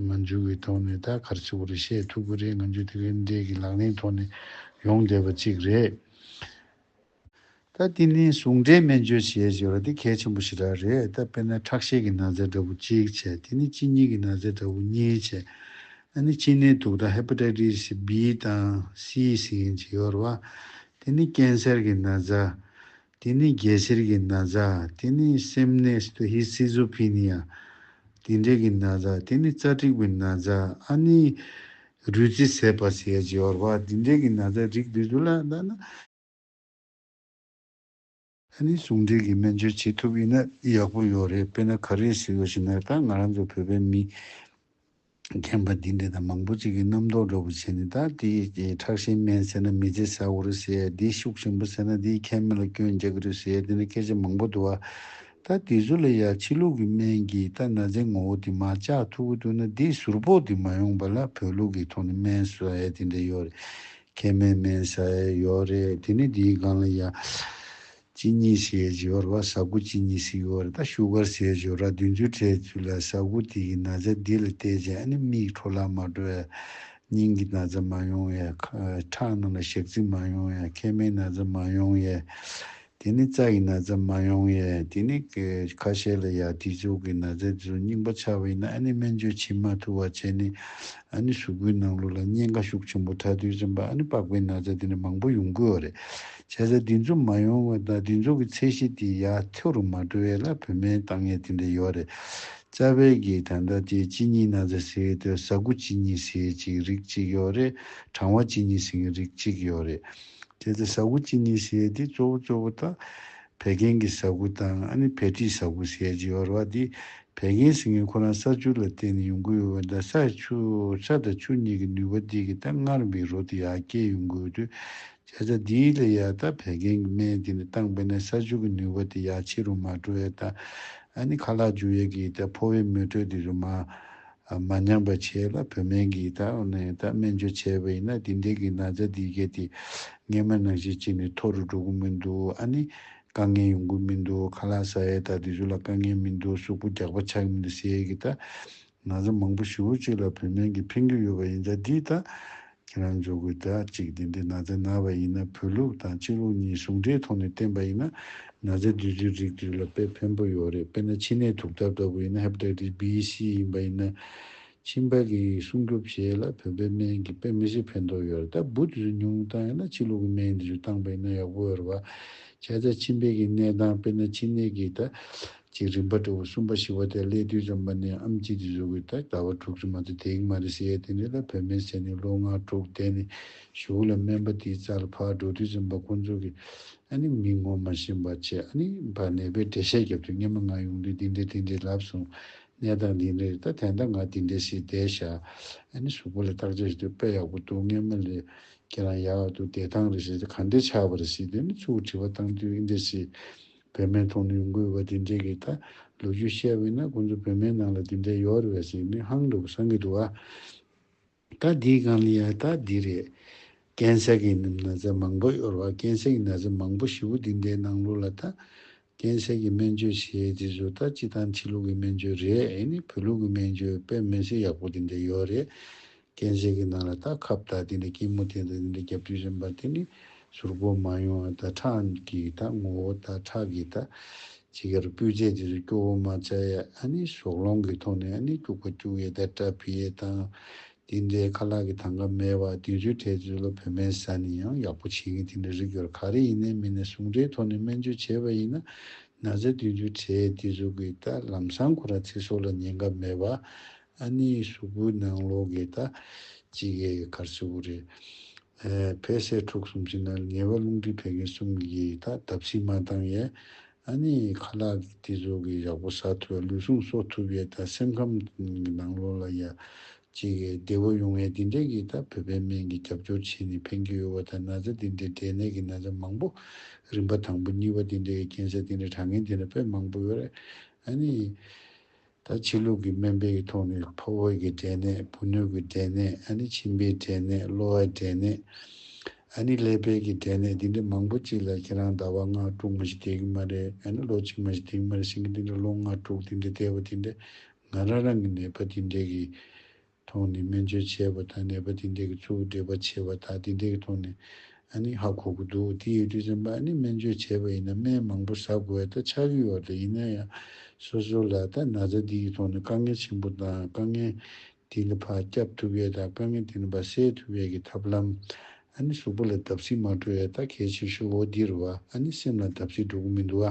ང་ཚོ་གི་ཐོག་ནས་ད་གར་ཚིག་བོ་རེ་བཤད་ཐུབ་ཀྱི་རེད་ང་ཚོ་དེ་གའི་འབྲས་ཀྱི་ལག་ལེན་ཐོག་ནས་ཡོང་བསྡད་པ་ཅིག་རེད། ད་དེ་ནི་ཟུང་འབྲེལ་སྨན་བཅོས་བྱེད་ཅེས་པ་འདི་གལ་ཆེན་པོ་ཞིག་རག་རེད་ད་དཔེར་ན་ཁྲག་ཤེད་ཀྱི་ན་ཚའི་འདྲ་བུ་གཅིག་བྱས་དེ་ནི་གཅིན་སྙི་གི་ན་ཚའི་འདྲ་བུ་གཉིས་བྱས་ད་ནི་གཅིན་ནད་དུག་དང Hepatitis B དང Cས་ཡིན་ཅེས་ཡོད་རེད་བ། དེ་ནི་ཀན་སེར་གྱི་ན་ཚ། དེ་ནི་རྒྱལ་སེར་གྱི་ན་ཚ། དེ་ནི་སེམས་ནད Schizophenia། དེ་འདྲས་ཀྱི་ན་ཚ། དེ་ནི་རྩ་དྲེག་པའི་ན་ཚ། ཨ་ནི་རུས་རྩི་ཟད་པ་བྱས་ཅེས་ཡོད་རེད་བ། དེ་འདྲས་ཀྱི་ན་ཚའི་རིགས་འདི་ཚོ་ལ་ད་ནི་ཨ་ནི་ཟུང་འབྲེལ་གྱི་སྨན་བཅོས་བྱེད་ཐུབ་ཡོད་ན་ཡག་པོ་ཡོད་རེད་དཔེར་ན་ག་རེ་ཟེར་ཡོད་ཞེ་ན་ད་ང་རང་ཚོ་བོད་པའི་མི་རྒན་པ་འདི་འདྲས་ད་མང་པོ་ཅིག་གི་རྣམ་རྟོག་འགྲོ་པོ་བྱས་ནས་ད་དེ་ཁྲག་ཤེད་སྨན་ཟེར་ན་མི་ཚེ་ཟ་གོ་རེ་ཟེར་དེ་ཤུགས་ཞན་པོ་ཟེར་ན་དེ་ཁའི་མི་ལ་སྐྱོན་རྒྱག་གི་རེད་ཟེར་དེ་འདྲ་སྐད་ཆ་མང་པོ་འདུག་ཨ། ད་དེ་ཚོ་ལ་ཡང་ཕྱི་ལུགས་ཀྱི་སྨན་གྱིས་ད་ན་ཚའི་ངོ་བོ་དེ་མ་བཅག་ཐུབ་ཀྱི་འདུག་ན་དེ་ཟུར་ཕོག་དེ་མ་ཡོང་པ་ལ་བོད་ལུགས་ཀྱི་ཐོག་ནས་སྨན་ཟོས་དེ་འདྲས་ཡོད་རེད་ཁེ་མེད་མེད་ས་ཡ་ཡོད་རེད་དེ་ནས་དེའི་སྒང་ལ་ཡ་གཅིག་གཉིས་ཞེས་བརྗོད་ར་བ་ཟ་ཁུ་གཅིག་གཉིས་ཤིག་ཡོད་རེད་ད་ཤུ་གར་ཞེས་བརྗོད་ར་བདུན་ཅུ་ཁྲའི་ཚུལ་ལ་ཟ་ཁུ་དེ་གི་ན་བཟའ་འདི་ལ་བལྟས་རྗེས་ཨ་ནི་མིག་འཕྲོ་ལག་མ་འགྲོ་ཡ་སྙིང་གི་ན་བཟའ་མ་ཡོང་ཡ་ཁྲག་རྣམས་ལ་ཞག་རྩི་མ་ཡོང་ཡ་ཁེ་མེད་ན་བཟའ་མ་ཡོང་ཡ་དེ་ནི་རྩྭ་ཡི་ན་བཟའ་མ་ཡོང་ཡས་དེ་ནི་ཁ་ཤས་ལ་ཡ་དེ་ཚོ་གི་ན་བཟའ་དེ་ཚོ་རྙིང་པ་ཆགས་པ་ཡིན་ན་ཨ་ནི་སྨན་བཅོས་བྱེད་མ་ཐུབ་བ་བྱས་ནས་ཨ་ནི་གཟུགས་པོའི་ནང་ལུགས་ལ་གཉེན་ཁ་ཤུགས་ཆེན་པོ་ཕྲ་དུས་ཙམ་པ་ཨ་ནི་པགས་པའི་ན་བཟའ་དེ་ནི་མང་པོ་ཡོང་དགོས་བ་རེད་བྱས་ཙང་དེ་ཚོ་མ་ཡོང་བ་དང་དེ་ཚོ་གི་ཚད་གཞི་དེ་ཡ་མཐོ་རུ་མ་འགྲོ་ཡས་ལ་བོད་སྨན་བཏང་ཡས་དེ་འདྲ་ཡོད་བ་རེད་རྩ་བའི་གི་ད་ལྟ་དེ་གཅིན་སྙི་ན་བཟའ་ཟེར་དུས་ཟ་ཀུ་གཅིན་སྙི་ཟེར་གཅིག་རིགས་གཅིག་ཡོད་རེད་གྲང་བ་གཅིན་སྙི་ཟེར་གི་རིགས་གཅིག་ཡོད་རེད། གལ་ཏེ་ཟ་ཁུ་ཅི་ནུས་བྱས་ཏེ་གཙོ་བོ་གཙོ་བོ་དག་བད་ཀན་གྱི་ཟ་ཁུ་དང་ཨ་ནི་བད་མཁྲིས་ཟ་ཁུ་ཟས་ཀྱིས་བར་བ་དེ་བད་ཀན་ཟིང་ངེ་ཁོ་རང་ས་ཆུ་ལ་བརྟེན་ནས་ཡོང་གི་ཡོད་བ་འདྲ་ས་ཆུ་ས་དང་ཆུ་གཉིས་ཀྱི་ནུས་པ་དེ་གི་ད་སྔར་མིའི་རོ་དེ་ཡར་སྐྱེད་ཡོང་གི་ཡོད་དུས་བྱ་བྱ་དེའི་ལས་ཡར་དག་བད་ཀན་གྱི་སྨན་དེ་ནི་བཏང་པས་ན་ས་ཆུ་གི་ནུས་པ་དེ་ཡར་ཕྱི་རུ་མ་འགྲོ་ཡས་དག་ཨ་ནི་ཁ་ལག་འཇུ་ཡས་ཀྱི་ད་ཕོ་བའི་མེ་དྲོད་དེ་རུ་མ་མ་ཉམས་པ་བྱས་ལ་བུད་སྨན་གྱིས་ད་འོ་ནས་ད་སྨན་བཅོས་བྱས་པ་ཡིན་ན་དེ་འདྲའི་གི་ན་ཚ་འདི་གས་ཏེ་སྔས་མ་ནང་བཞིན་བྱས་ནས་མཐོ་རུ་འགྲོ་གི་མི་འདུག་ཨ་ནི་དཀའ་ངལ་ཡོང་གི་མི་འདུག་ཁ་ལག་ཟ་ཡས་ད་དེ་ཚོ་ལ་དཀའ་ངལ་མི་འདུག་གཟུགས་པོ་རྒྱགས་པ་ཆགས་ཀྱི་མི་འདུག་ཟེར་ཡས་གི་ད་ན་ཚ་མང་པོ་བཞི་བོ་གཅིག་ལ་བུད་སྨན་གྱིས་ཕན་གྱི་ཡོད་པ་ཡིན་ད་འདིས་ད་ཁྱེད་རང་ཚོ་གུས་དག་ཅིག་དེ་འདྲའི་ན་ཚའི་ན་བ་ཡིན་ན་བོད་ལུགས་དང་སྤྱི་ལུགས་གཉིས་ཟུང་འབྲེལ་ཐོག་ནས་བསྟན་པ་ཡིན་ན་ན་ཚའི་བདུད་རྩིའི་རིགས་དེ་རིགས་ལ་དཔེ་ཕན་པོ་ཡོད་རེད་དཔེར་ན་ཕྱི་ནས་དུག་ཐབ་ལྟ་བུ་ཡིན་ན Hepatitis B C ཡིན་པ་ཡིན་ན་མཆིན་པ་གི་སྲུང་སྐྱོབ་བྱེད་ལ་བོད་པའི་སྨན་གྱི་དཔེ་མི་སྲིད་ཕན་ཐོག་ཡོད་རེད་ད་བུ་དེ་ཚོ་ཉུང་བཏང་ཡོད་ན་སྤྱི་ལུགས་ཀྱི་སྨན་དེ་ཚོ་བཏང་པ་ཡིན་ན་ཡག་པོ་ཡོད་རེད་བ་ཁྱད་ད་མཆིན་པའི་གི་ནད་དང་དཔེར་ན་མཆིན་ནད་ཀྱི་ད། ཅིག་རིམ་པར་དྲིལ་བ་གསུམ་པ་བཞི་བ་དེ་སླད་དུས་འཇམ་པ་ནས་ཨམ་གཅིག་ཏུ་བཞུགས་པའི་ད་ལྟ་བ་དྲུག་ཅུ་མ་དོ་དེའི་མ་རི་སི་ཡའི་དེ་འདྲའི་ལ་བོད་སྨན་ཟས་ནི་ལོ་ལྔ་དྲུག་འདས་ནས་བཞུགས་ལ་སྨན་པ་དེའི་རྩ་ལ་ཕག་འབྲུག་དུས་འཇམ་པ་ཁོང་ཚོ་གིས་ཨ་ནི་མི་ངོ་མ་ཤེས་འབའ་ཆེ་ཨ་ནི་འབའ་ནད་པའི་འགྲེལ་བཤད་བརྒྱབ་དུས་སྙན་མ་ང་ཡོང་དུས་འདི་འདྲས་འདི་འདྲས་ལབ་སོང་ནད་དང་འདི་འདྲས་རེད་ད་དེ་འདྲ་ང་འདི་འདྲས་ཞེས་བསྡད་བཞག་ཨ་ནི་གཟུགས་པོ་ལ་བརྟག་དཔྱད་བྱེད་དུས་དཔེ་ཡག་པོ་འདུག་སྔས་མ་ལས་ཁྱེད་རང་ཡག་འདུག་བདེ་ཐང་རེད་ཞེས་ད་ག་འདྲས་ཆགས་པ་རེད་ཞེས་དེ་ནི་ཚུར་དྲི་བ་བཏང་དུས་འདི་འདྲས་ཞེས་བོད་སྨན་ཐོག་ནས་འགོས་པ་དེ་འདྲས་ཀྱི་ཐད་ལོ་རྒྱུས་བཤད་བས་ན་ཁོང་ཚོ་བོད་སྨན་ནང་ལ་དེ་འདྲས་ཡོད་རེད་བས་ཟེར་ནས་ཧང་འདུག་བསམ་གྱི་འདུག་ཨ། ད་འདིའི་སྒང་ལ་ཡང་ད་འདི་རེད། རྐན་སྲེག་གི་ནི་ན་བཟའ་མང་པོ་གཡོར་བ་རྐན་སྲེག་གི་ན་བཟའ་མང་པོ་བཞི་བོ་དེ་འདྲའི་ནང་ལུགས་ལ་ད། རྐན་སྲེག་གི་སྨན་བཅོས་བྱས་དེ་ཚོ་ད་སྤྱི་དང་ཕྱི་ལུགས་ཀྱི་སྨན་བཅོས་རེད་ཨེ་ནི་བོད་ལུགས་ཀྱི་སྨན་བཅོས་དཔེ་མི་སྲིད་ཡག་པོ་དེ་འདྲས་ཡོད་རེད། རྐྱེན་གཞན་གྱི་ནང་ལ་ད་ཁ་བརྡ་དེ་འདྲའི་སྐྱིད་མོ་དེ་འདྲ་དེ་འདྲའི་རྒྱབ་དུས་རན་པ་དེ་ནི་ཟུར་བཀོལ་མ་ཡོང་ཨ། ད་ཁྲང་གི་ད་ངོ་བོ་ད་ཁྲག་གི་ད། ཅི་གར་སྤུས་ཚད་དེ་ཚོ་སྐྱོ་བོ་མ་བྱ་ཡ་ཨ་ནི་ཞོགས་ལོང་གི་ཐོག་ནས་ཨ་ནི་སྐྱུག་པ་སྐྱུག་ཡས་ད་སྐྲ་ཕི་ཡས་དང། དེ་འདྲའི་ཁ་ལག་གི་ཐང་ག་མེད་བ་དེ་ཚོའི་གྲས་ཚོའི་ལོ་བོད་སྨན་ཟ་ནི་ཡང་ཡག་པོ་བྱེད་མཁན་དེ་འདྲ་རིགས་ཡོད་ག་རེ་ཡིན་ནའི་མི་ནས་ཟུང་འབྲེལ་ཐོག་ནས་སྨན་བཅོས་བྱས་པ་ཡིན་ན་ན་ཟ་དུས་ཚོའི་གྲས་དེ་ཚོ་གི་ད་ལམ་སང་ཁོ་ར་ཚེ་སྲོག་ལ་ཉེན་ཁ་མེད་བ་ཨ། ཨ་ནེའི་གཟུགས་པོའི་ནང་ལོགས་ཀྱི་ད་ཅི་གའི་གར་སེར་བོ་རེ། བལ་སེར་ཕྲུག་གསུམ་གྱི་ནང་ངེས་པ་རླུང་མཁྲིས་བད་ཀན་གསུམ་གྱིས་ད་བརྡབ་ཚིག་མ་བཏང་ཡས། ཨ་ནེའི་ཁ་ལག་གི་སྟེ་གཟུགས་ཀྱི་ཡག་པོ་ཟ་ཐུབ་ཡས་ལུས་ཟུངས་གསོ་ཐུབ་ཡས་ད་སེམས་ཁམས་གི་ནང་ལོགས་ལ་ཡས། ཅི་གའི་བདེ་བོ་ཡོང་ཡས་དེ་འདྲས་ཀྱིས་ད་བོད་པའི་སྨན་གྱི་རྒྱབ་སྐྱོར་བྱས་ནས་ཕན་གྱི་ཡོད་བ་ད་ན་ཚ་དེ་འདྲས་འབྲས་ནད་ཀྱི་ན་ཚ་མང་པོ། རིམ་པ་དང་པོ་གཉིས་པ་དེ་འདྲས་ཀྱི་རྐྱེན་སེལ་དེ་འདྲས་དྲག་ངན་དེ་འདྲས་དཔེ་མང་པོ་ཡོད་རེད། ཨ་ནེའི། ད་ཕྱི་ལུགས་ཀྱི་སྨན་དཔེ་ཡི་ཐོག་ནས་ཕོ་བོད་ཀྱི་འབྲས་ནད་བུ་སྣོད་ཀྱི་འབྲས་ནད་ཨ་ནི་མཆིན་པའི་འབྲས་ནད་གློ་བའི་འབྲས་ནད་ཨ་ནི་ཀླད་པའི་གི་འབྲས་ནད་འདི་འདྲ་མང་པོ་ཅིག་ལ་ཁྱེད་རང་ཟླ་བ་ལྔ་དྲུག་མ་ཞིག་བསྡད་ཀྱི་མ་རེད་ཨ་ནི་ལོ་གཅིག་མ་ཞིག་བསྡད་ཀྱི་མ་རེད་ཤིང་གི་འདི་འདྲ་ལོ་ལྔ་དྲུག་འདི་འདྲ་བསྡད་པ་འདི་འདྲ་ང་རང་རང་གི་ནད་པ་འདི་འདྲས་གི་ཐོག་ནས་སྨན་བཅོས་བྱས་པ་དང་ནད་པ་དེ་འདྲས་ཀྱི་གཙོ་བོ་འདྲེས་པ་བྱེད་པ་དག་དེ་འདྲས་ཀྱི་ཐོག་ནས་ཨ་ནི་ཧ་གོ་གི་འདུག་དེ་ཡོད་དུས་སེམས་པ་ཨ་ནི་སྨན་བཅོས་བྱས་པ་ཡིན་ན་སྨན་མང་པོ་ཟ་དགོས་ཨ་ད་ཆགས་ཀྱི་ཡོད་ད་ཡིན་ན་ཡང་སོ་སོ་ལ་ད་ན་ཚ་འདི་ཡི་ཐོག་ནས་དཀའ་ངལ་ཆེན་པོ་དང་དཀའ་ངལ་དེ་ནི་བག་སྐྱབས་ཐུབ་ཡས་དང་དཀའ་ངལ་དེ་ནི་བ་སེལ་ཐུབ་ཡས་ཀྱི་ཐབས་ལམ་ཨ་ནི་གཟུགས་པོ་ལ་བརྡབ་གསིག་མ་སྤྲོ་ཡས་ད་གལ་ཆེ་ཤོས་འོ་འདིར་བ་ཨ་ནི་སེམས་ལ་བརྡབ་གསིག་འགྲོ་གི་མི་འདུག་ཨ་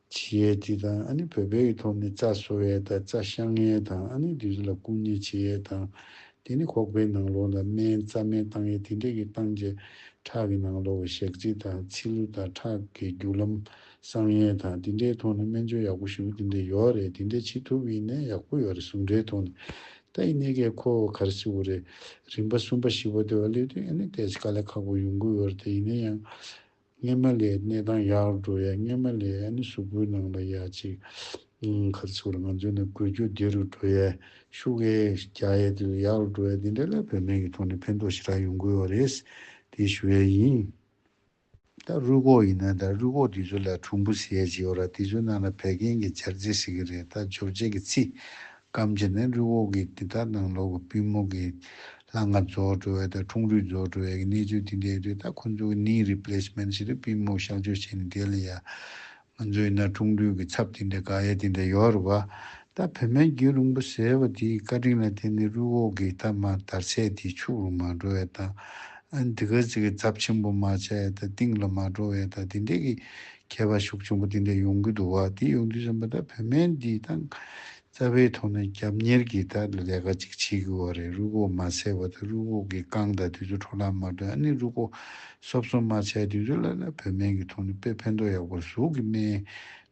བྱེད་ཡས་སྤྱི་དང་ཨ་ནི་བོད་སྦས་ཀྱི་ཐོག་ནས་རྩ་གསོ་བས་དང་རྩ་བཤང་ངས་དང་ཨ་ནི་དུས་ཚོད་ལ་སྐུང་ཉེས་བྱེད་ཡས་དང། དེ་ནི་ཁོག་པའི་ནང་ལོགས་ལ་སྨན་རྩ་སྨན་བཏང་ཡས་དེ་འདྲས་ཀྱི་བཏང་རྗེས་ཁྲག་གི་ནང་ལོགས་བའི་ཞག་རྩི་དང་ཚིལ་ལུ་དང་ཁྲག་གི་རྒྱུ་ལམ་བསྲང་ཡས་དང་དེ་འདྲའི་ཐོག་ནས་སྨན་བཅོས་ཡག་པོ་ཞུ་དེ་འདྲས་ཡོའོ་རེད་དེ་འདྲས་བྱེད་ཐུབ་ཡིན་ནས་ཡག་པོ་ཡོའོ་རེད་ཟུང་འབྲེལ་ཐོག་ནས་ད་ཡིན་ནས་ཀས་ཁོ་གར་སི་བོ་རེད་རིམ་པ་གསུམ་པ་བཞི་པ་དེ་བ་སླེབས་དུས་ཨ་ནི་དེས་ཀ་ལས་ཁག་པོ་ཡོང་གི་ཡོའོ་རེད་དེ་ཡིན་ནས་ཡང་སྔས་མ་ལའི་གནས་སྟངས་ཡག་རུ་འགྲོ་ཡ་སྔས་མ་ལའི་ཨན་གཟུགས་སྐུའི་ནང་ལ་ཡ་གཅིག་མཁར་ཚུགས་ལ་ང་ཚོས་ནི་དགོས་རྒྱུ་བདེ་རུ་འགྲོ་ཡ་ཤུགས་ཨེ་རྒྱག་ཡ་དེ་ལ་ཡག་རུ་འགྲོ་ཡ་དེ་འདྲ་ལ་བོད་སྨན་གྱི་ཐོག་ནས་ཕན་ཐོགས་ཞེ་དྲག་ཡོང་དགོས་བ་རེད་དེ་ཞུ་ཡ་ཡིན། ད་རུས་ཁོག་ཡིན་ན་ད་རུས་ཁོག་དེ་ཚོ་ལ་གྲུང་པོ་ཟེར་ཡ་ཅིག་ཡོད་ར་དེ་ཚོའི་ནང་ལ་བད་ཀན་གྱི་འབྱར་རྫས་ཟེར་གྱི་རེད་ད་འབྱོར་རྫས་ཀྱི་ཚིག་སྐམ་བྱེད་ནི་རི་འོག་གི་དེ་དག་དང་ལོགས་ཀྱི་པུས་མོ་གི་ལྷ་ལྔ་རྫོགས་འགྲོ་བ་དང་ཁྲུང་རུས་རྫོགས་འགྲོ་བའི་གནས་ཚུལ་དེ་འདྲའི་རི་དག་ཁོ་ཚོ་གི་ནི Replacement ཞིག་རེད་པུས་མོ་གཤགས་བཅོས་བྱས་ནས་དེ་ལ་ཡ། ང་ཚོ་ཡིན་ན་ཁྲུང་རུས་ཀྱི་ཚབ་དེ་འདྲ་དགག་ཡ་དེ་འདྲ་ཡོད་རེད་བ། ད་བོད་སྨན་རྒྱུད་རིང་པོ་ཟེར་བ་དེའི་བཀའ་དྲིན་ལ་བརྟེན་ནས་རུས་འོག་གི་ཐ་མ་དར་ཚད་དེ་ཕྱུགས་རུ་མ་འགྲོ་བའི་དང། དེ་ག་ཚིག་གི་ཚབ་ཆེན་པོ་མ་བྱ་ཡ་དང་གཏིང་ལ་མ་འགྲོ་བའི་དང་དེ་འདྲའི་གི་མཁས་པ་ཤུགས་ཆེན་པོ་འདི་འདྲ་ཡོང་གི་འདུག་བ་འདི་ཡོང་དུས་སེམས་པ་ད་བོད་སྨན་འདི་ད་རྩ་བའི་ཐོག་ནས་རྒྱབ་གཉེར་གྱི་ད་ལས་ཀ་ཅིག་བྱེད་དགོས་བ་རེད་རུ་ཁོག་མ་སེལ་བ་ད་རུ་ཁོག་གི་རྐང་ད་དུས་ཚོད་འཕྲོ་བརླག་མ་དོན་ཨ་ནི་རུ་ཁོག་གསོ་བསོ་མ་བྱས་དུས་ཚོད་ལ་ལ་བོད་སྨན་གྱི་ཐོག་ནས་དཔེ་ཕན་ཐོག་ཡག་པོ་ཟུག་གི་སྨན་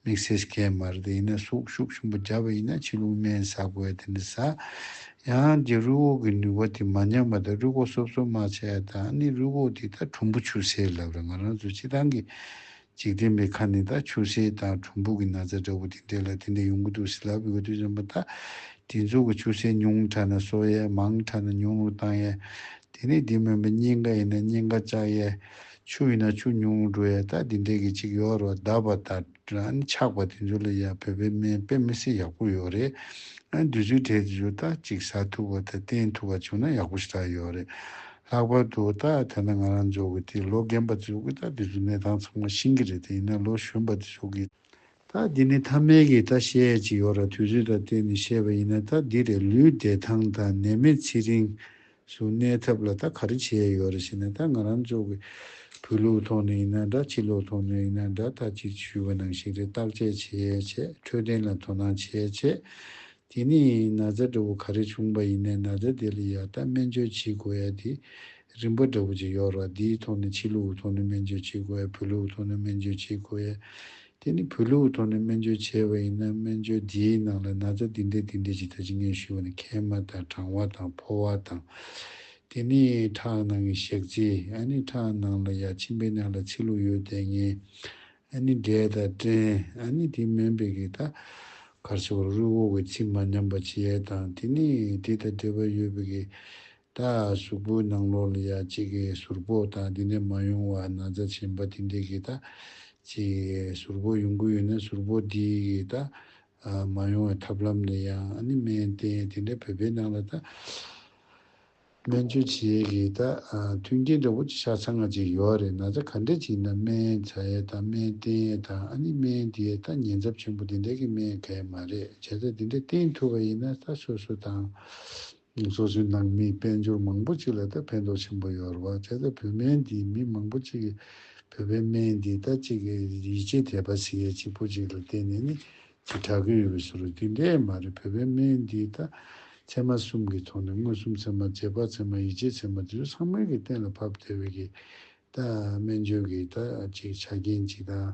དམིགས་བསལ་གས་མ་རེད་ཡིན་ན་ཟུག་ཤུགས་ཆེན་པོ་རྒྱབ་བ་ཡིན་ན་ཕྱི་ལུགས་སྨན་ཟ་དགོས་བ་དེ་འདྲ་ཟ། ཡང་རྒྱལ་རུས་འོག་གི་ནུས་པ་དེ་མ་ཉམས་པ་དང་རུས་སྒོག་སོབ་སོབ་མ་བྱས་དང་ནི་རུས་སྒོག་དེ་དག་གྲུམ་བུ་ཆུ་སེར་ལབ་ལ་ང་རང་ཚོའི་ཕྱི་ཐང་གི་འཇིག་རྟེན་པའི་ཁ་ནས་དག་ཆུ་སེར་དང་གྲུམ་བུ་གི་ན་ཚ་འདྲ་བོ་དེ་འདྲེས་ལ་དེ་འདྲ་ཡོང་གི་འདུག་ཟི་ལ་བུ་ག་དུས་ཙམ་པ་དག་དེ་ཚོ་གི་ཆུ་སེར་ཉུང་དྲགས་ན་གསོ་ཡས་མང་དྲགས་ན་ཉུང་རུ་བཏང་ཡས་དེ་ནས་དེ་མིན་པ་སྙིང་ག་ཡིན་ན་སྙིང་ག་བཅག་ཡས་ཆུ་ཡིན་ན་ཆུ་ཉུང་རུ་ཡས་དག་དེ་འདྲེས་གི་ཅིག་ཡོག་རོགས་གདབ་པ་དང། རང་ནི་ཆགས་པ་དེ་ཚོ་ལ་ཡང་བོད་པའི་སྨན་དཔེ་མི་སྲིད་ཡག་པོ་ཡོད་རེད། དུས་ཚོད་དྲེད་དེ་ཚོ་ད་ཅིག་ཟ་ཐུབ་བ་དང་བསྟེན་ཐུབ་བ་བྱུང་ན་ཡག་པོ་ཞིག་ད་ཡོད་རེད། ལྷག་པར་དུ་ད་ཐ་ན་ང་རང་ཚོ་གི་དེ་ལོ་རྒན་པ་དེ་ཚོ་གི་ད་དེ་ཚོ་གནས་སྟངས་ཚང་མ་ཤིང་གི་རེད་དེ་ཡིན་ན་ལོ་གཞོན་པ་དེ་ཚོ་གི་ད་དེ་ནི་ཐ་མལ་གི་ད་བཤད་ཡས་ཅིག་ཡོད་ར་དུས་ཚོད་ད་བསྟེན་ནས་བཤད་པ་ཡིན་ན་ད་འདི་རེད་ལུས་བདེ་ཐང་དང་ནད་མེད་ཚེ་རིང། གཟུགས་གནས་ཐབས་ལ་ད་ག་རེ་བྱས་ཡོད་རེད་ཞེ་ན་ད་ང་རང་ཚོ་གི་བོད་ལུགས་ཐོག་ནས་ཡིན་ན་འདྲ་ཕྱི་ལུགས་ཐོག་ནས་ཡིན་ན་འདྲ་ད་ཅིག་ཞུས་པ་ནང་བཞིན་རེད་བརྟག་དཔྱད་བྱས་བྱས་འཕྲོད་བསྟེན་ལ་དོ་སྣང་བྱས་བྱས་དེ་ནས་ན་བཟའ་འདྲ་བོ་ག་རེ་བྱུང་པ་ཡིན་ནའི་ན་བཟའ་དེ་ལ་ཡ་ད་སྨན་བཅོས་བྱེད་དགོས་ཡ་དེ་རིམ་པ་འདྲ་བོ་ཅིག་ཡོད་ར་འདིའི་ཐོག་ནས་ཕྱི་ལུགས་ཐོག་ནས་སྨན་བཅོས་བྱེད་དགོས་ཡ་བོད་ལུགས་ཐོག་ནས་སྨན་བཅོས་བྱེད་དགོས་ཡ་དེ་ནི་བོད་ལུགས་ཐོག་ནས་སྨན་བཅོས་བྱས་པ་ཡིན་ན་སྨན་བཅོས་དེའི་ནང་ལ་ན་ཚ་འདི་འདྲས་འདི་འདྲས་ཇི་ལྟར་ཇི་སྙེད་ཞུ་བ་ནི་མཁལ་མ་དང་གྲང་བ་དང་ཕོ་བ་དང། དེ་ནི་ཁྲག་ནང་གི་ཞག་རྩི་ཨ་ནི་ཁྲག་ནང་ལ་ཡ་མཆིན་པའི་ནང་ལ་ཚི་ལུག་ཡོད་དེ་ངན་ཨ་ནི་འབྲས་དང་སྐྲན་ཨ་ནི་དེ་སྨན་པས་གི་ད་གར་བྱེད་པར་རུས་བོ་བའི་ཚི་མ་ཉམས་པ་བྱེད་ཡས་དང་དེ་ནི་དེ་དང་འབྲེལ་པ་ཡོད་པས་གི། ད་གཟུགས་པོའི་ནང་ལོགས་ལ་ཡང་གཅིག་གི་ཟུར་པོ་དང་དེ་ནས་མ་ཡོང་བ་ན་རྩ་ཆེན་པ་དེ་འདྲས་ཀྱི་ད་གཅིག་གི་ཟུར་པོ་ཡོང་གི་ཡོད་ན་ཟུར་པོ་དེ་ཡི་ད་མ་ཡོང་བའི་ཐབས་ལམ་ནི་ཡང་ཨ་ནི་སྨན་བསྟེན་དེ་འདྲས་བོད་པའི་ནང་ལ་ད་སྨན་བཅོས་བྱེད་ཀྱི་ད་མཐུན་རྐྱེན་འདྲ་བོ་ཅིག་ཆ་ཚང་ང་ཅིག་ཡོད་རེད་ན་ད་ག་འདྲས་ཅིག་ཡིན་ན་སྨན་བྱ་ཡས་དང་སྨན་བསྟེན་ཡས་དང་ཨ་ནི་སྨན་དེ་ཡས་ད་ཉེན་ཚབས་ཆེན་པོ་དེ་འདྲས་ཀྱི་སྨན་ག་ཡས་མ་རེད་བྱས་ཙང་དེ་འདྲས་བསྟེན་ཐུབ་པ་ཡིན་ན་ད་སོ་སོ་དང། སོ་སོའི་ནང་མིའི་དཔལ་འབྱོར་མང་པོ་ཅིག་ལ་ལྟ་ཕན་ཐོགས་ཆེན་པོ་ཡོད་རེད་བ་བྱ་ད་བོད་སྨན་འདིས་མི་མང་པོ་ཅིག་གི་བོད་པའི་སྨན་འདིས་ད་ཅིག་གི་ཡིད་ཆེས་དད་པ་ཟེར་ཡས་ཅིག་པོ་ཅིག་ལ་བརྟེན་ནས་ནི་ཅིག་གྲགས་ཀྱི་ཡོད་པའི་ཟུར་རོ་དེ་འདྲས་མ་རེད་བོད་པའི་སྨན་འདིས་ད་ཚད་མ་གསུམ་གི་ཐོག་ནས་མངོན་སུམ་ཚད་མ་རྗེས་དཔག་ཚད་མ་ཡིད་ཆེས་ཚད་མ་དེ་ཚོ་ཚང་མལ་གྱི་གཏན་ལ་ཕབ་བདེ་བའི་གིས་ད་སྨན་བཅོས་ཀྱིས་ད་ཅིག་ཆ་རྐྱེན་ཅིག་དང།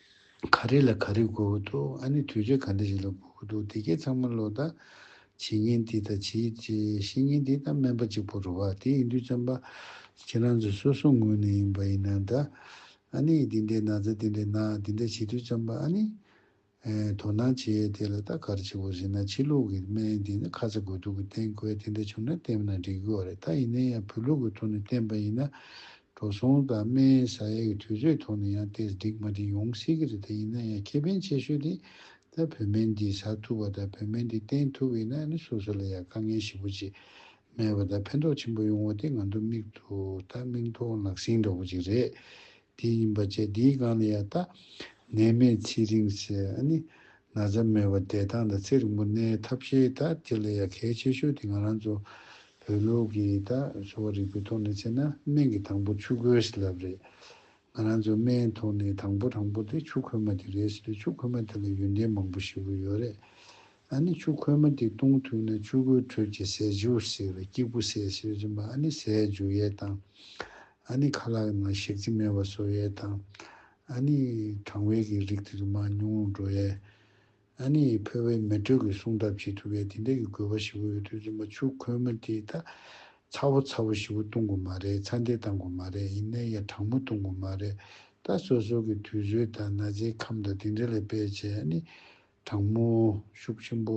ག་རེ་ལ་ག་རེ་དགོས་ཀྱི་འདུག་ཨ་ནི་དུས་ཚོད་ག་འདྲ་ཞིག་ལ་དགོས་ཀྱི་འདུག་དེ་སྐད་ཚང་མ་ལོ་ད། བྱེད་ཉིན་འདི་དང་བྱེད་བཤད་ཉིན་འདི་དང་སྨན་པ་གཅིག་པོ་རུ་བ་དེ་ཡིན་དུས་བཙན་པ། ཁྱེད་རང་ཚོ་སོ་སོ་ངོས་ནས་ཡིན་པ་ཡིན་ན་ད། ཨ་ནི་འདི་འདྲའི་ན་ཚ་འདི་འདྲའི་ན་འདི་འདྲ་བྱེད་དུས་བཙན་པ་ཨ་ནི། དོ་སྣང་བྱེད་ཡས་དེ་ལ་ད་གར་བྱེད་པོ་ཟེར་ན་ཕྱི་ལུགས་ཀྱི་སྨན་འདི་ནི་ཁ་ཚ་དགོས་གཏུག་གི་བསྟེན་དགོས་དེ་འདྲ་བྱུང་ན་བསྟེན་ན་འགྲིག་གི་བ་རེད་ད་ཡིན་ན་ཡང་བོད་ལུགས་ཀྱི་ཐོག་ནས་བསྟེན་པ་ཡིན་ན། འགྲོ་སོང་དང་སྨན་བཟའ་ཡས་ཀྱི་དུས་ཚོད་ཐོག་ནས་ཡང་ཏེས་སྒྲིག་མ་དྲིན་ཡོང་སྲིད་ཀྱི་རེད་དེ་ཡིན་ན་ཡང་ཁེ་ཕན་ཆེ་ཤོས་དེ་ད་བོད་སྨན་འདི་བཟའ་ཐུབ་པ་དང་བོད་སྨན་འདི་བསྟེན་ཐུབ་པ་ཡིན་ན་ནི་སོ་སོ་ལ་ཡང་དཀའ་ངལ་ཞི་པོ་ཅིག་མེད་པ་དང་ཕན་ཐོགས་ཆེན་པོ་ཡོང་བ་དེ་ང་ཚོ་མིག་ཐུ་ད་མིག་མཐོང་ལག་ཟིན་འདྲ་བོ་ཅིག་རེད་དེ་ཡིན་པ་བཅས་འདིའི་སྒང་ལ་ཡང་ད་ནད་མེད་ཚེ་རིང་སེ་ཨ་ནི་ན་ཚ་མེད་པར་བདེ་ཐང་དང་ཚེ་རིང་པོ་གནས་ཐབས་ཤེས་ད་དེ་ལས་ཡ་གལ་ཆེ་ཤོས་དེ་ང་རང་ཚོ་བོད་ལུགས་ཀྱི་ད་གསོ་བ་རིག་པའི་ཐོག་ནས་བྱས་ན་སྨན་གྱི་དང་པོ་ཆུ་ཁོལ་ཞིག་ལབ་རེད། ང་རང་ཚོའི་སྨན་ཐོག་ནས་དང་པོ་དྲང་པོ་དེ་ཆུ་ཁོལ་མ་དེ་རེད་ཟེར་ཆུ་ཁོལ་མ་དེ་ལ་ཡོན་ཏན་མང་པོ་ཞིག་ཡོད་རེད། ཨ་ནི་ཆུ་ཁོལ་མ་དེ་བཏུང་ཐུབ་ན་ཆུ་ཁོལ་ཁྲོད་ཀྱི་ཟས་འཇུ་སེར་བའི་སྐྱིགས་བུ་ཟས་ཤེར་སྦྱིན་པ་ཨ་ནི་ཟས་འཇུ་ཡས་དང། ཨ་ནི་ཁ་ལག་ནང་ཞིག་རྩི་མེད་པ་བཟོ་ཡས་དང། ཨ་ནི་གྲང་བའི་གི་རིགས་དེ་ཚོ་མ་ཉུང་ངུ་འགྲོ་ཡས། ཨ་ནི་ཕོ་བའི་མེ་དྲོད་ཀྱི་སྲུང་ཐབས་བྱེད་ཐུབ་ཡས་དེ་འད་ཀྱི་དགོས་པ་ཞི་བོ་ཡོད་དུས་ཚོད་མ་ཆུ་ཁོལ་མོ་དེ་ད་ཚ་བོ་ཚ་བོ་ཞི་བོ་བཏུང་དགོས་མ་རེད་ཚ་འདེད་བཏང་དགོས་མ་རེད་ཡིན་ནའི་ཡ་གྲང་མོ་བཏུང་དགོས་མ་རེད་ད་སོ་སོ་གི་དུས་ཚོད་ད་ན་ཚའི་ཁམས་ད་དེ་འད་ལས་པས་བྱས་ཨ་ནི་གྲང་མོ་ཤུགས་ཆེན་པོ་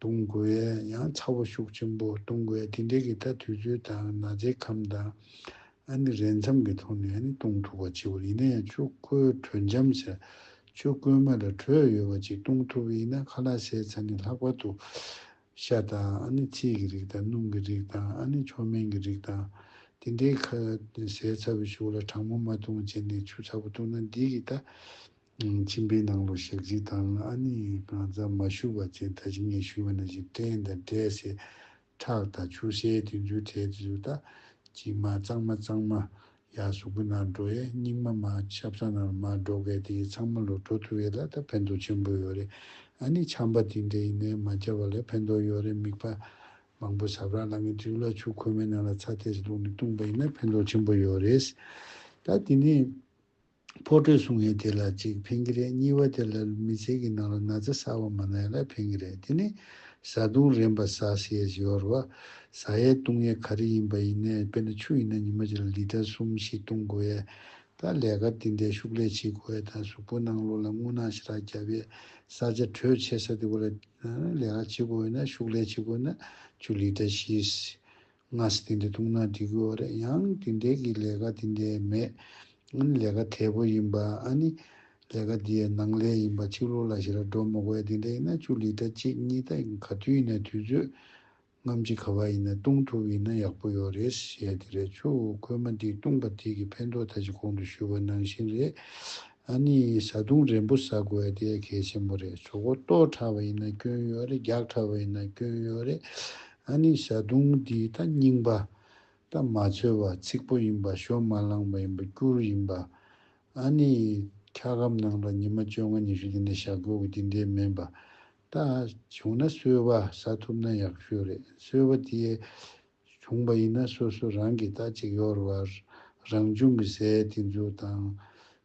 དུང་འགོས་ཡང་ཚ་བོ་ཤུགས་ཆེན་པོ་དུང་འགོས་དེ་འདྲའི་གི་ད་དུས་ཚོད་དང་ན་ཚའི་ཁམས་དང། ཨ་ནི་རས་མཚམས་གི་ཐོག་ནས་ཨ་ནི་བཏུང་ཐུབ་པ་ཅིག་བོར་ཡིན་ན་ཡང་ཆུ་བསྐོལ་དྲོད་འཇམ་ཟེར། ཆུ་བསྐོལ་མ་ལ་དྲོད་ཡོད་པ་ཅིག་བཏུང་ཐུབ་པ་ཡིན་ན་ཁ་ལག་ཤའི་ཚ་ནི་ལྷག་པར་དུ། ཤ་དང་ཨ་ནི་ཚིལ་གྱི་རིགས་དང་སྣུམ་གྱི་རིགས་དང་ཨ་ནི་མཆོག་སྨན་གྱི་རིགས་དང། དེ་འདྲའི་ཁ་ཟས་ཚ་བོ་ཤུགས་ལ་གྲང་མོ་མ་བཏུང་བྱས་ནས་ཆུ་ཚ་བོ་བཏུང་ན་འདིའི་གི་ད། མཆིན་པའི་ནང་ལོ་ཞག་གཅིག་དང་ཨ་ནི་རྐང་རྩ་མ་ཞུ་བ་བཅས་ད་ཅི་ངས་ཞུས་པ་ན་ཞིག་སྐྲན་དང་སྐྲའི་ཟས་ཁྲག་དང་ཆུ་སེར་དེ་ཚོའི་གྲས་དེ་ཚོ་ད་ཅི་མ་གཙང་མ་གཙང་མ་ཡག་གཟུགས་པོ་ནར་འགྲོ་ཡས་སྙིགས་མ་མ་ཆབ་ས་ནར་མ་འགྲོ་གས་དེ་ཚང་མ་ལོ་འགྲོ་ཐུ་ཡས་ལ་ད་ཕན་ཐོག་ཆེན་པོ་ཡོད་རེད་ཨ་ནི་ཆམ་པ་དེ་འདྲས་ཡིན་ནས་མ་བཅའ་བ་ལས་ཕན་ཐོག་ཡོད་རེད་མིག་པ་མང་པོ་ཟབ་རག་ལ་ངས་དྲིའུ་ལ་ཆུ་ཁོལ་མའི་ནང་ལ་ཚ་ཐེས་བླུགས་ནས་བཏུང་པ་ཡིན་ན་ཕན་ཐོག་ཆེན་པོ་ཡོད་རེད་ད་དེ་ནས། ཕོ་ཁྲོས་སྲུང་ཡས་དེ་ལ་གཅིག་འཕེན་གྱི་རེད་གཉིས་བ་དེ་ལ་མི་ཚེ་གི་ནང་ལ་ན་ཚ་གསར་བ་མ་ནའི་ལ་འཕེན་གྱི་རེད་དེ་ནི་བཟའ་བཏུང་རན་པ་ཟ་བྱེད་ཞོར་བ་ཟ་ཡས་བཏུང་ཡས་ག་རེ་ཡིན་པ་ཡིན་ནའི་དཔེར་ན་ཆུ་ཡིན་ན་ཉི་མ་གཅིག་ལ་ལིཏར་གསུམ་བཞི་བཏུང་དགོས་ཡས་དང་ལས་ཀར་དེ་འདའི་ཤུགས་ལས་བྱེད་དགོས་ཡས་དང་གཟུགས་པོ་སྣང་ལོ་ལ་རྔུལ་ནག་ཞི་རགས་རྒྱབ་ཡས་ས་ཆ་དྲོད་ཆེ་ས་དེ་བོ་ལ་ལས་ཀ་བྱེད་དགོས་ཡས་ན་ཤུགས་ལས་བྱེད་དགོས་ན་ཆུ་ལིཏར་བཞི། སྔར་སྲིད་དེ་འདྲ་ཐུག་ན་འགྲིག་གི་འོ་རེད་ཡང་དེ་འདྲའི་གི་ལས་ཀ་དེ་འདྲའི་མེད་ཨ་ནི་ལས་ཀ་དལ་པོ་ཡིན་པ་ཨ་ནི་ལས་ཀ་འདི་ཡི་ནང་ལས་ཡིན་པ་ཆིག་ལོ་ལ་ཞེ་ར་འགྲོ་མི་དགོས་དེ་འདྲ་ཡིན་ན་བཅུ་ལིས་ཏྲ་གཅིག་གཉིས་ད་ག་དུས་ཡིན་ན་དུས་ཚོད་རྔམ་ཅི་ག་བ་ཡིན་ན་བཏུང་ཐུབ་ཡིན་ན་ཡག་པོ་ཡོད་རེད་ཞེས་དེ་རེད་ཆུ་ཁོལ་མ་འདི་བཏུང་པ་དེ་གི་ཕན་ཐོག་ད་ཅི་གོང་དུ་ཞུས་པ་ནང་བཞིན་རེད་ཨ་ནི་བྱ་བརྡུང་རན་པོ་ཟ་དགོས་ཨ་དེ་གལ་ཆེན་པོ་རེད་ཇོ་ཁོ་ལྟོགས་ཁྲ་བ་ཡིན་ན་སྐྱོན་ཡོད་རེད་རྒྱགས་ཁྲ་བ་ཡིན་ན་སྐྱོན་ཡོད་རེད་ཨ་ནི་བྱ་བརྡུང་འདི་ད་རྙིང་པ་ད་མ་འཚོལ་བ་ཚིག་པོ་ཡིན་པ་ཞོ་མ་བླངས་པ་ཡིན་པ་སྐྱུར་ཡིན་པ་ཨ་ནི་འཁྱག་སྒམ་ནང་ལ་ཉི་མ་བཅོ་ལྔ་ཉི་ཤུ་དེ་འདྲ་བཞག་དགོས་གི་དེ་འདྲའི་མིན་པ་ད་བྱུང་ན་སོལ་བ་ཟ་ཐུབ་ན་ཡག་ཤོས་རེད་སོལ་བ་དེ་བྱུང་བ་ཡིན་ན་སོ་སོ་རང་གིས་ད་ཅིག་གཡོར་བར་རང་བྱུང་གི་ཟས་དེ་འཛུགས་དང།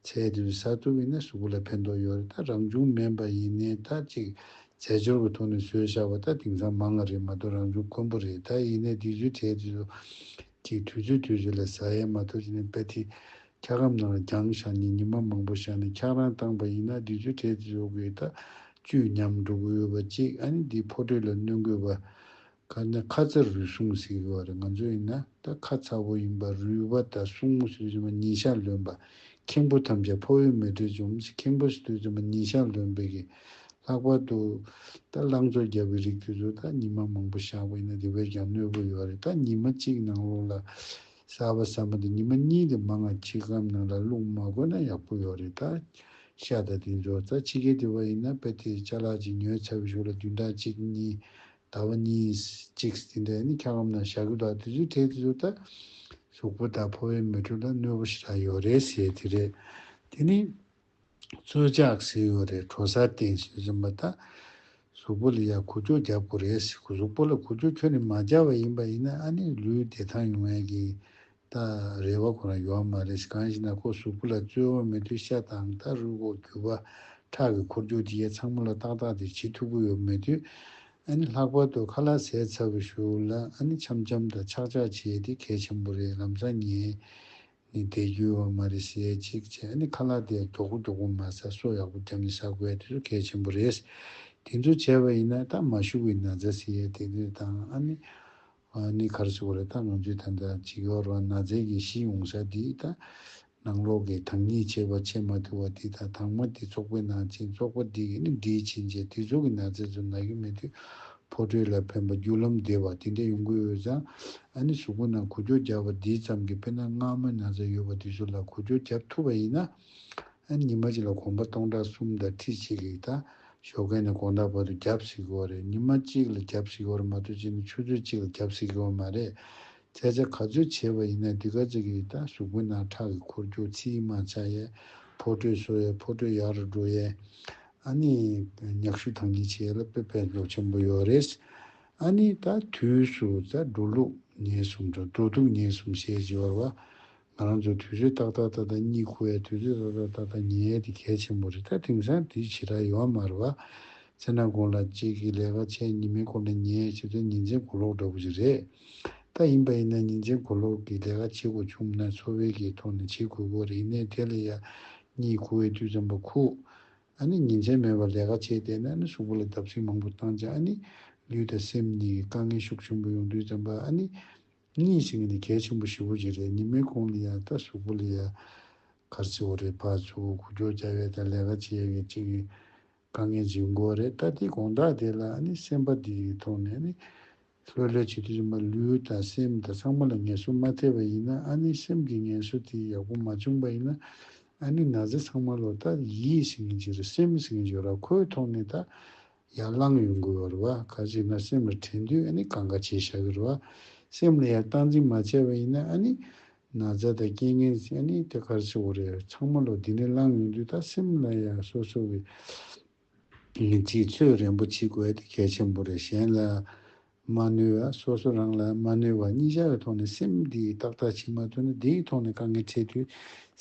ཚད་དེ་བས་ཟ་ཐུབ་ཡིན་ན་གཟུགས་ལ་ཕན་ཐོགས་ཡོད་རེད་ད་རང་བྱུང་མིན་པ་ཡིན་ནའི་ད་ཅིག་རྫས་སྦྱོར་གི་ཐོག་ནས་ཟོས་བཞག་པ་ད་དེང་སང་མང་ང་རེད་མ་གཏོགས་རང་བྱུང་དཀོན་པོ་རེད་ད་ཡིན་ནའི་དུས་ཚོད་ཁྲལ་དེ་ཚོ་ཅིག་དུས་ཚོད་དུས་ཚོད་ལ་ཟ་ཡས་མ་གཏོགས་ཅི་ནས་པད་ཐི་འཁྱག་སྒམ་ནང་ལ་རྒྱང་བཞག་ཉིན་ཉི་མ་མང་པོ་བཞག་ནས་འཁྱག་རང་བཏང་པ་ཡིན་ན་དུས་ཚོད་ཁྲལ་དེ་ཚོ་དགོས་ད་བཅུད་ཉམས་འགྲོ་གི་ཡོད་པ་ཅིག་ཨ་ནི་འདི་ཕོ་ཁྲོད་ལ་གནོད་འགོས་པ་ཁ་ནི་ཁ་ཚ་རུས་གསུམ་ཟེར་གི་བ་རེད་ང་ཚོ་ཡིན་ན་ད་ཁ་ཚ་བོ་ཡིན་པ་རུས་བ་ད་སྲུང་མོ་ཟེར་གྱི་བ་ཉིན་ཞག་ལོན་པ་ཁེངས་པོ་ཐམས་ཅད་ཕོ་བས་མི་བྲེལ་འཇོམས་ཟེར་ཁེངས་པོ་ཟེར་དུས་ཚོད་མ་ཉིན་ཞག་ལོན་པའི་གི་ལྷག་པར་དུ་ད་ལང་ཚོ་རྒྱབ་བའི་རིགས་དུས་ཚོད་ད་ཉིན་མ་མང་པོ་ཞག་པ་ཡིན་ན་དེ་བས་ཀྱང་གནོད་པོ་ཡོད་རེད་ད་ཉིན་མ་གཅིག་ནང་ལོགས་ལ་གསར་བ་ཟ་མ་དང་ཉིན་མ་གཉིས་དེ་མ་ང་ཁྱི་སྒམ་ནང་ལ་བླུགས་མ་དགོས་ན་ཡག་པོ་ཡོད་རེད་ད་ཤ་དང་དེ་འཇོག་རྩ་ཕྱི་གས་དེ་བ་ཡིན་ན་དཔེ་དེ་བྱ་ལག་ཅིག་ཉོས་ཚར་བའི་ཞོར་ལ་བདུན་ཕྲག་གཅིག་གཉིས་ཟླ་བ་གཉིས། གཅིག་དེ་འདྲ་ཡིན་ན་འཁྱགས་རོམ་ནང་བཞག་གི་འདུག་དེ་ཚོའི་གྲས་དེ་ཚོ་ད་གཟུགས་པོ་དང་ཕོ་བའི་མི་དྲུག་ལ་གནོད་པོ་ཞིག་ལྷག་ཡོད་རེད་ཟེར་གྱི་རེད། དེ་ནི་རྩོད་རྒྱག་ཟེར་ཡོད་རེད་གྲོ་སར་བསྟན་ཞེས་རིམ་པ་ད་གཟུགས་པོ་ལ་ཡར་གུ་ཅོ་རྒྱག་དགོས་རེད་ཟེར་གཟུགས་པོ་ལ་གུ་ཅོ་ཁྱོད་ནི་མ་རྒྱག་བ་ཡིན་པ་ཡིན་ན་ཨ་ནི་ལུས་བདེ་ཐང་ཡོང་ཡས་ཀྱི་ད་རེ་བ་ཁོ་རང་ཡོའ་མ་རེད་ཞེས་གང་ཞིག་ན་ཁོ་གཟུགས་པོ་ལ་རྩོལ་བ་མེད་དུས་ཤ་དང་ད་རུས་ཁོག་རྒྱུ་བ་ཁྲག་གི་འཁོར་རྒྱུག་དེ་ཡས་ཚང་མ་ལ་ཏག་ཏག་དེ་བྱེད་ཐུབ་ཀི་ཡོད་མེད་དུས་ཨ་ནི་ལྷག་པར་དུ་ཁ་ལག་ཟས་ཚ་བུ་ཞུགས་ལ་ཨ་ནི་འཆམ་འཆམ་དང་ཆག་ཆག་བྱས་དེ་གལ་ཆེན་པོ་རེད་ལམ་སང་ངས་ནི་དེ་རྒྱུ་བ་མ་རེད་ཟས་ཅིག་བྱས་ཨ་ནི་ཁ་ལག་དེ་མགྱོགས་པོ་མགྱོགས་པོ་མ་ཟ་སོ་ཡག་པོ་རྒྱབ་ནས་ཟ་དགོས་དེ་ཚོ་གལ་ཆེན་པོ་རེད་དེ་ཚོ་བྱས་པ་ཡིན་ན་ད་མ་ཞུགས་ཡིན་ན་རྫ་ཟེ་ཡས་དེ་དེ་དང་ཨ་ནི་ང་ནི་གར་བྱེད་པོ་རེད་ད་ལོ་འཇུ་ཐན་དང་བྱིས་ཡོ་རོ་ན་ཛེ་གི་ཤི་ཡོང་ཤ་དེ་ད་ནང་ལོག་གི་དང་ཉིད་བྱེད་པ་བྱེད་མ་ཐུ་བ་དེ་ད་དང་མ་དེ་ཚོགས་པའི་ནང་ཕྱིན་ཚོགས་པ་དེ་གི་ནི་འདྲིས་ཕྱིན་རྗེས་དེ་ཚོ་གི་ན་ཛེ་ཚོ་ན་གི་མེད་དུས་ཕོ་ཁྲོས་ལ་ཕན་པ་རྒྱུ་ལམ་བདེ་བ་དེ་འདྲ་ཡོང་གི་འོད་ཙང་ཨ་ནི་གཟུགས་པོ་ན་གུ་ཅོ་རྒྱབ་པ་དེ་ཙམ་གི་དཔེ་ན་སྔ་མོའི་ན་ཛེ་ཡོད་པ་དེ་ཚོ་ལ་གུ་ཅོ་རྒྱབ་ཐུབ་པ་ཡིན་ན་ཨ་ཉི་མ་གཅིག་ལ་གོམ་པ་སྟོང་ཕྲག་གསུམ་དང་ཁྲི་གཅིག་ལེགས་ད་ཞོ་མཁན་ནི་གོང་ད་བར་དུ་རྒྱབ་སྲིད་ཀི་བ་རེད་ཉི་མ་གཅིག་ལ་རྒྱབ་སྲིད་ཀི་བ་རེད་མ་གཏོགས་གཅིག་ནི་ཆུ་ཚོད་གཅིག་ལ་རྒྱབ་སྲིད་ཀི་བ་མ་རེད། སྐད་ཆ་ག་ཚོད་བྱེད་པ་ཡིན་ན་འདི་ག་ཚོད་ཀྱིས་ད་གཟུགས་པོ་ནང་ཁྲག་གི་འཁོར་རྒྱུག་ཚི་ཡི་མ་ཆག་ཡས་ཕོ་ཁྲོས་སོ་ཡས་ཕོ་ཁྲོས་ཡག་རུ་འགྲོ་ཡས། ཨ་ནི་མྱག་ཤུ་ཐང་གིས་བྱས་ལ་དཔེ་ཕན་ཐོགས་ཆེན་པོ་ཡོད་རེད། ཨ་ནི་ད་དུས་སུ་ད་འགྲོ་ལུགས་ཉེས་གསུམ་དང་འགྲོ་འདུག་ཉེས་གསུམ་བཤད་ཅི་བར་བ། ང་རང་ཚོའི་དུས་ཚོད་ཏག་ཏག་ཏག་ཏག་གཉིད་ཁུག་ཡ་དུས་ཚོད་ཏག་ཏག་ཏག་ཏག་ཉལ་ཡ་དེ་གལ་ཆེན་པོ་རེད་ད་དེང་སང་དུས་ཇི་ལྟར་ཡོང་བ་མ་རེད་བ། ཚེ་ན་དགོང་ལ་གཅིག་གིས་ལས་ཀ་ཆད་ཉི་མའི་སྐོར་ལ་ཉལ་ཡ་ཕྱི་ཚོད་ཉིན་མཚན་གོ་ལོག་འདྲ་བོ་ཞིག་རེད། ད་ཡིན་པ་ཡིན་ན་ཉིན་མཚན་གོ་ལོག་གི་ལས་ཀ་བྱེད་དགོས་བྱུང་མིན་ན་འཚོ་བའི་གེའི་ཐོག་ནས་བྱེད་དགོས་སྐོར་རེད་ཡིན་ནའི་དེ་ལ་ཡ་གཉིད་ཁུག་ཡའི་དུས་ཙམ་པོ་ཁུག་ཨ་ནི་ཉིན་མཚན་མེད་པར་ལས་ཀ་བྱས་བསྡད་ན་ཨ་ནི་གཟུགས་པོ་ལ་བརྡབ་གསིག་མང་པོ་བཏང་ཅིང་ཨ་ནི་ལུས་དང་སེམས་གཉིས་ཀྱི་དཀའ་ངལ་ཤུགས་ཆེན་པོ་ཡོང་དུས་ཙམ་པ་ཨ་ནི། གཉིས་ཤིག་ནི་གལ་ཆེན་པོ་བཞི་བོ་ཞིག་རེད་ཉི་མའི་གོང་ནས་ཡང་ལྟ་ཞོག་པོ་ལི་ཡ་གར་ཚི་བོ་རེད་ཕར་ཚུར་གོ་རྒྱོག་རྒྱག་ཡས་དང་ལས་ཀ་བྱེད་ཡས་ཀྱི་གཅིག་གི་དཀའ་ངལ་འབྱིན་དགོས་རེད་ལྟ་དེ་དགོངས་དག་དེ་ལ་ཨ་ནི་སེམས་པ་དེ་ཡི་ཐོག་ནས་ཨ་ནི་ལྷོད་ལྷོད་བྱེད་དུས་ཡིན་པ་ལུས་དང་སེམས་དང་ཚང་མ་ལ་ངལ་གསོ་མ་ཐེབས་པ་ཡིན་ན་ཨ་ནི་སེམས་ཀྱི་ངལ་གསོ་དེ་ཡག་པོ་མ་བྱུང་པ་ཡིན་ན་ཨ་ནི་ན་ཚ་ཚང་མ་ལོ་ལྟ་ཡིས་ཟིན་གྱི་རེད་སེམས་ཟིན་གྱི་རེད་ཁོའི་ཐོག་ནས་ད་ཡར་ལངས་ཡོང་དགོས་བར་བ་ཁ་ཅིག་ང་སེམས་ལ་དྲན་དུས་ཨ་ནི་གང་ག་བྱེད་བཞག་གི་རེད་བ། སེམས་ལ་ཡར་སྟངས་འཛིན་མ་བྱས་པ་ཡིན་ན་ཨ་ནི། ན་ཚ་དང་རྐྱེན་ངན་ཟིན་ཨ་ནི་དེ་གར་སེ་བོ་རེད་ཚང་མ་ལོ་འདི་ནས་ལངས་ཡོང་དུས་ད་སེམས་ལ་ཡར་སོ་སོ་གི། ངེས་ཚིག་ཚོད་རན་པོ་བྱེད་དགོས་དེ་གལ་ཆེན་པོ་རེད་གཞན་ལ། མ་ནུས་བ་སོ་སོ་རང་ལ་མ་ནུས་བ་གཉིས་ཆར་བའི་ཐོག་ནས་སེམས་འདི་ཡིས་ཏག་ཏག་བྱེད་མ་ཐུབ་ན་དེའི་ཐོག་ནས་དཀའ་ངལ་འཕྲད་དུས་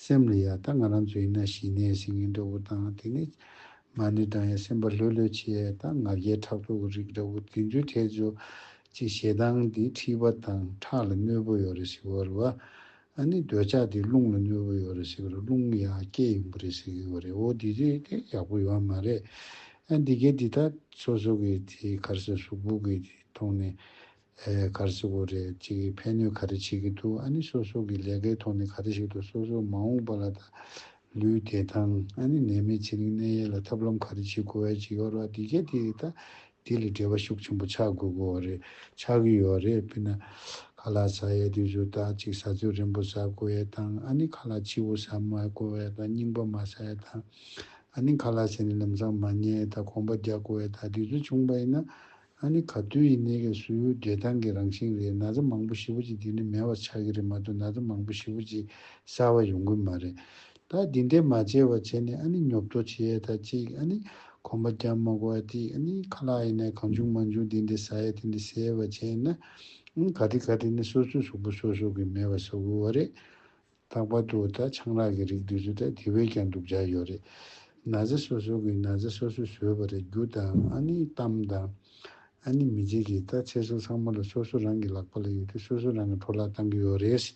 སེམས་ལ་ཡང་ད་ང་རང་ཚོ་ཡིན་ན་ཞི་གནས་ཟིན་གྱི་འདྲ་བོ་དང་དེ་ནས་མ་ནུས་དང་ཡང་སེམས་པ་ལྷོད་ལྷོད་བྱས་ད་ང་རྒྱལ་ཕྲག་དོག་གི་རིགས་འདྲ་བོ་དེ་ཚོའི་གྲས་ཚོ་གཅིག་ཞེ་སྡང་འདི་འཁྲིས་པ་དང་ཁྲག་ལ་གནོད་པོ་ཡོད་རེ་ཞིག་བོར་བ། ཨ་ནི་འདོད་ཆགས་དེ་རླུང་ལ་གནོད་པོ་ཡོད་རེ་ཞིག་གི་རུ་རླུང་གི་ཡང་སྐྱེད་ཡིན་པོ་རེ་ཞིག་གི་བ་རེད་འོ་དེ་དེ་དེ་ཡག་པོ་ཡོད་མ་རེད་ཨ་འདི་གས་འདི་དག་སོ་སོ་གི་དེ་གར་སེ་གཟུགས་སྦུག་གི་དེ་ཐོག་ནས་ཨེ་གར་སེ་བོ་རེད་ཅིག་གི་ཕན་གནོད་ག་རེ་བྱེད་ཀི་འདུག་ཨ་ནི་སོ་སོ་གི་ལས་ཀའི་ཐོག་ནས་ག་རེ་ཞིག་ཏུ་སོ་སོ་མ་འོངས་པ་ལ་ད་ལུས་བདེ་ཐང་ཨ་ནི་ནད་མེད་ཚེ་རིང་གནས་ཡས་ལ་ཐབས་ལམ་ག་རེ་བྱེད་དགོས་བས་ཀྱི་ཡོད་རོགས་འདི་གས་དེ་རེད་ད། དེ་ལས་འབྲེལ་བ་ཤུགས་ཆེན་པོ་ཆགས་དགོས་དགོས་བ་རེད་ཆགས་ཀྱི་ཡོད་རེད་དཔེར་ན། ཁ་ལག་ཟ་ཡས་དུས་སུ་ད་ཅིག་ཟ་ཚོད་རན་པོ་ཟ་དགོས་ཡས་དང་ཨ་ནི་ཁ་ལག་ཕྱི་བོ་ཟ་མ་དགོས་བས་ད་རྙིང་པ་མ་ཟ་ཡས་དང། ཨ་ནི་ཁ་ལག་ཟས་ནི་ལམ་སང་མ་ཉལ་ཡས་ད་གོམ་པ་རྒྱག་དགོས་བས་ད་དུས་ཚོད་ཆུང་བ་ཡིན་ན། ཨ་ནི་ག་དུས་ཡིན་ནའི་ག་སུའི་བདེ་ཐང་གི་རང་བཞིན་རེད་ན་ཚ་མང་པོ་ཞི་བོ་ཅིག་འདི་ནས་མེད་བ་ཆགས་ཀྱི་རེད་མ་གཏོགས་ན་ཚ་མང་པོ་ཞི་བོ་ཅིག་གསར་བ་ཡོང་གི་མ་རེད་ད་འདི་འདྲས་མ་བྱས་བ་བྱས་ནས་ཨ་ནི་ཉོབ་ཏོ་བྱེད་ཡས་ད་ཅིག་ཨ་ནི་གོམ་པ་རྒྱབ་མ་གོ་ཨ་ཏི་ཨ་ནི་ཁ་ལག་ཡིན་ནའི་གང་བྱུང་མ་བྱུང་འདི་འདྲས་ཟ་ཡས་དེ་འདྲས་ཟས་ཡས་བ་བྱས་ཡས་ན་ཨ་ནི་ག་དེ་ག་དེ་ནས་སོ་སོའི་གཟུགས་པོ་སོ་སོ་གི་མེད་བ་ཟ་དགོས་བ་རེད། ལྷག་པར་དུ་ད་ཆང་རག་གི་རིགས་དུས་ཚོད་ད་དེ་བས་ཀྱང་སྡུག་ཆགས་ཡོད་རེད། ན་ཟེ་སོ་སོ་གིས་ན་ཟེ་སོ་སོས་ཟོས་པ་རེད་རྒྱུ་དང་ཨ་ནེའི་གཏམ་དང། ཨ་ནེ་མི་རྗེ་གིས་ད་ཚེ་སྲོག་ཚང་མ་ལ་སོ་སོ་རང་གི་ལག་པ་ལ་ཡོད་དུས་སོ་སོ་རང་གི་འཕྲོ་བརླག་བཏང་གི་ཡོད་རེད།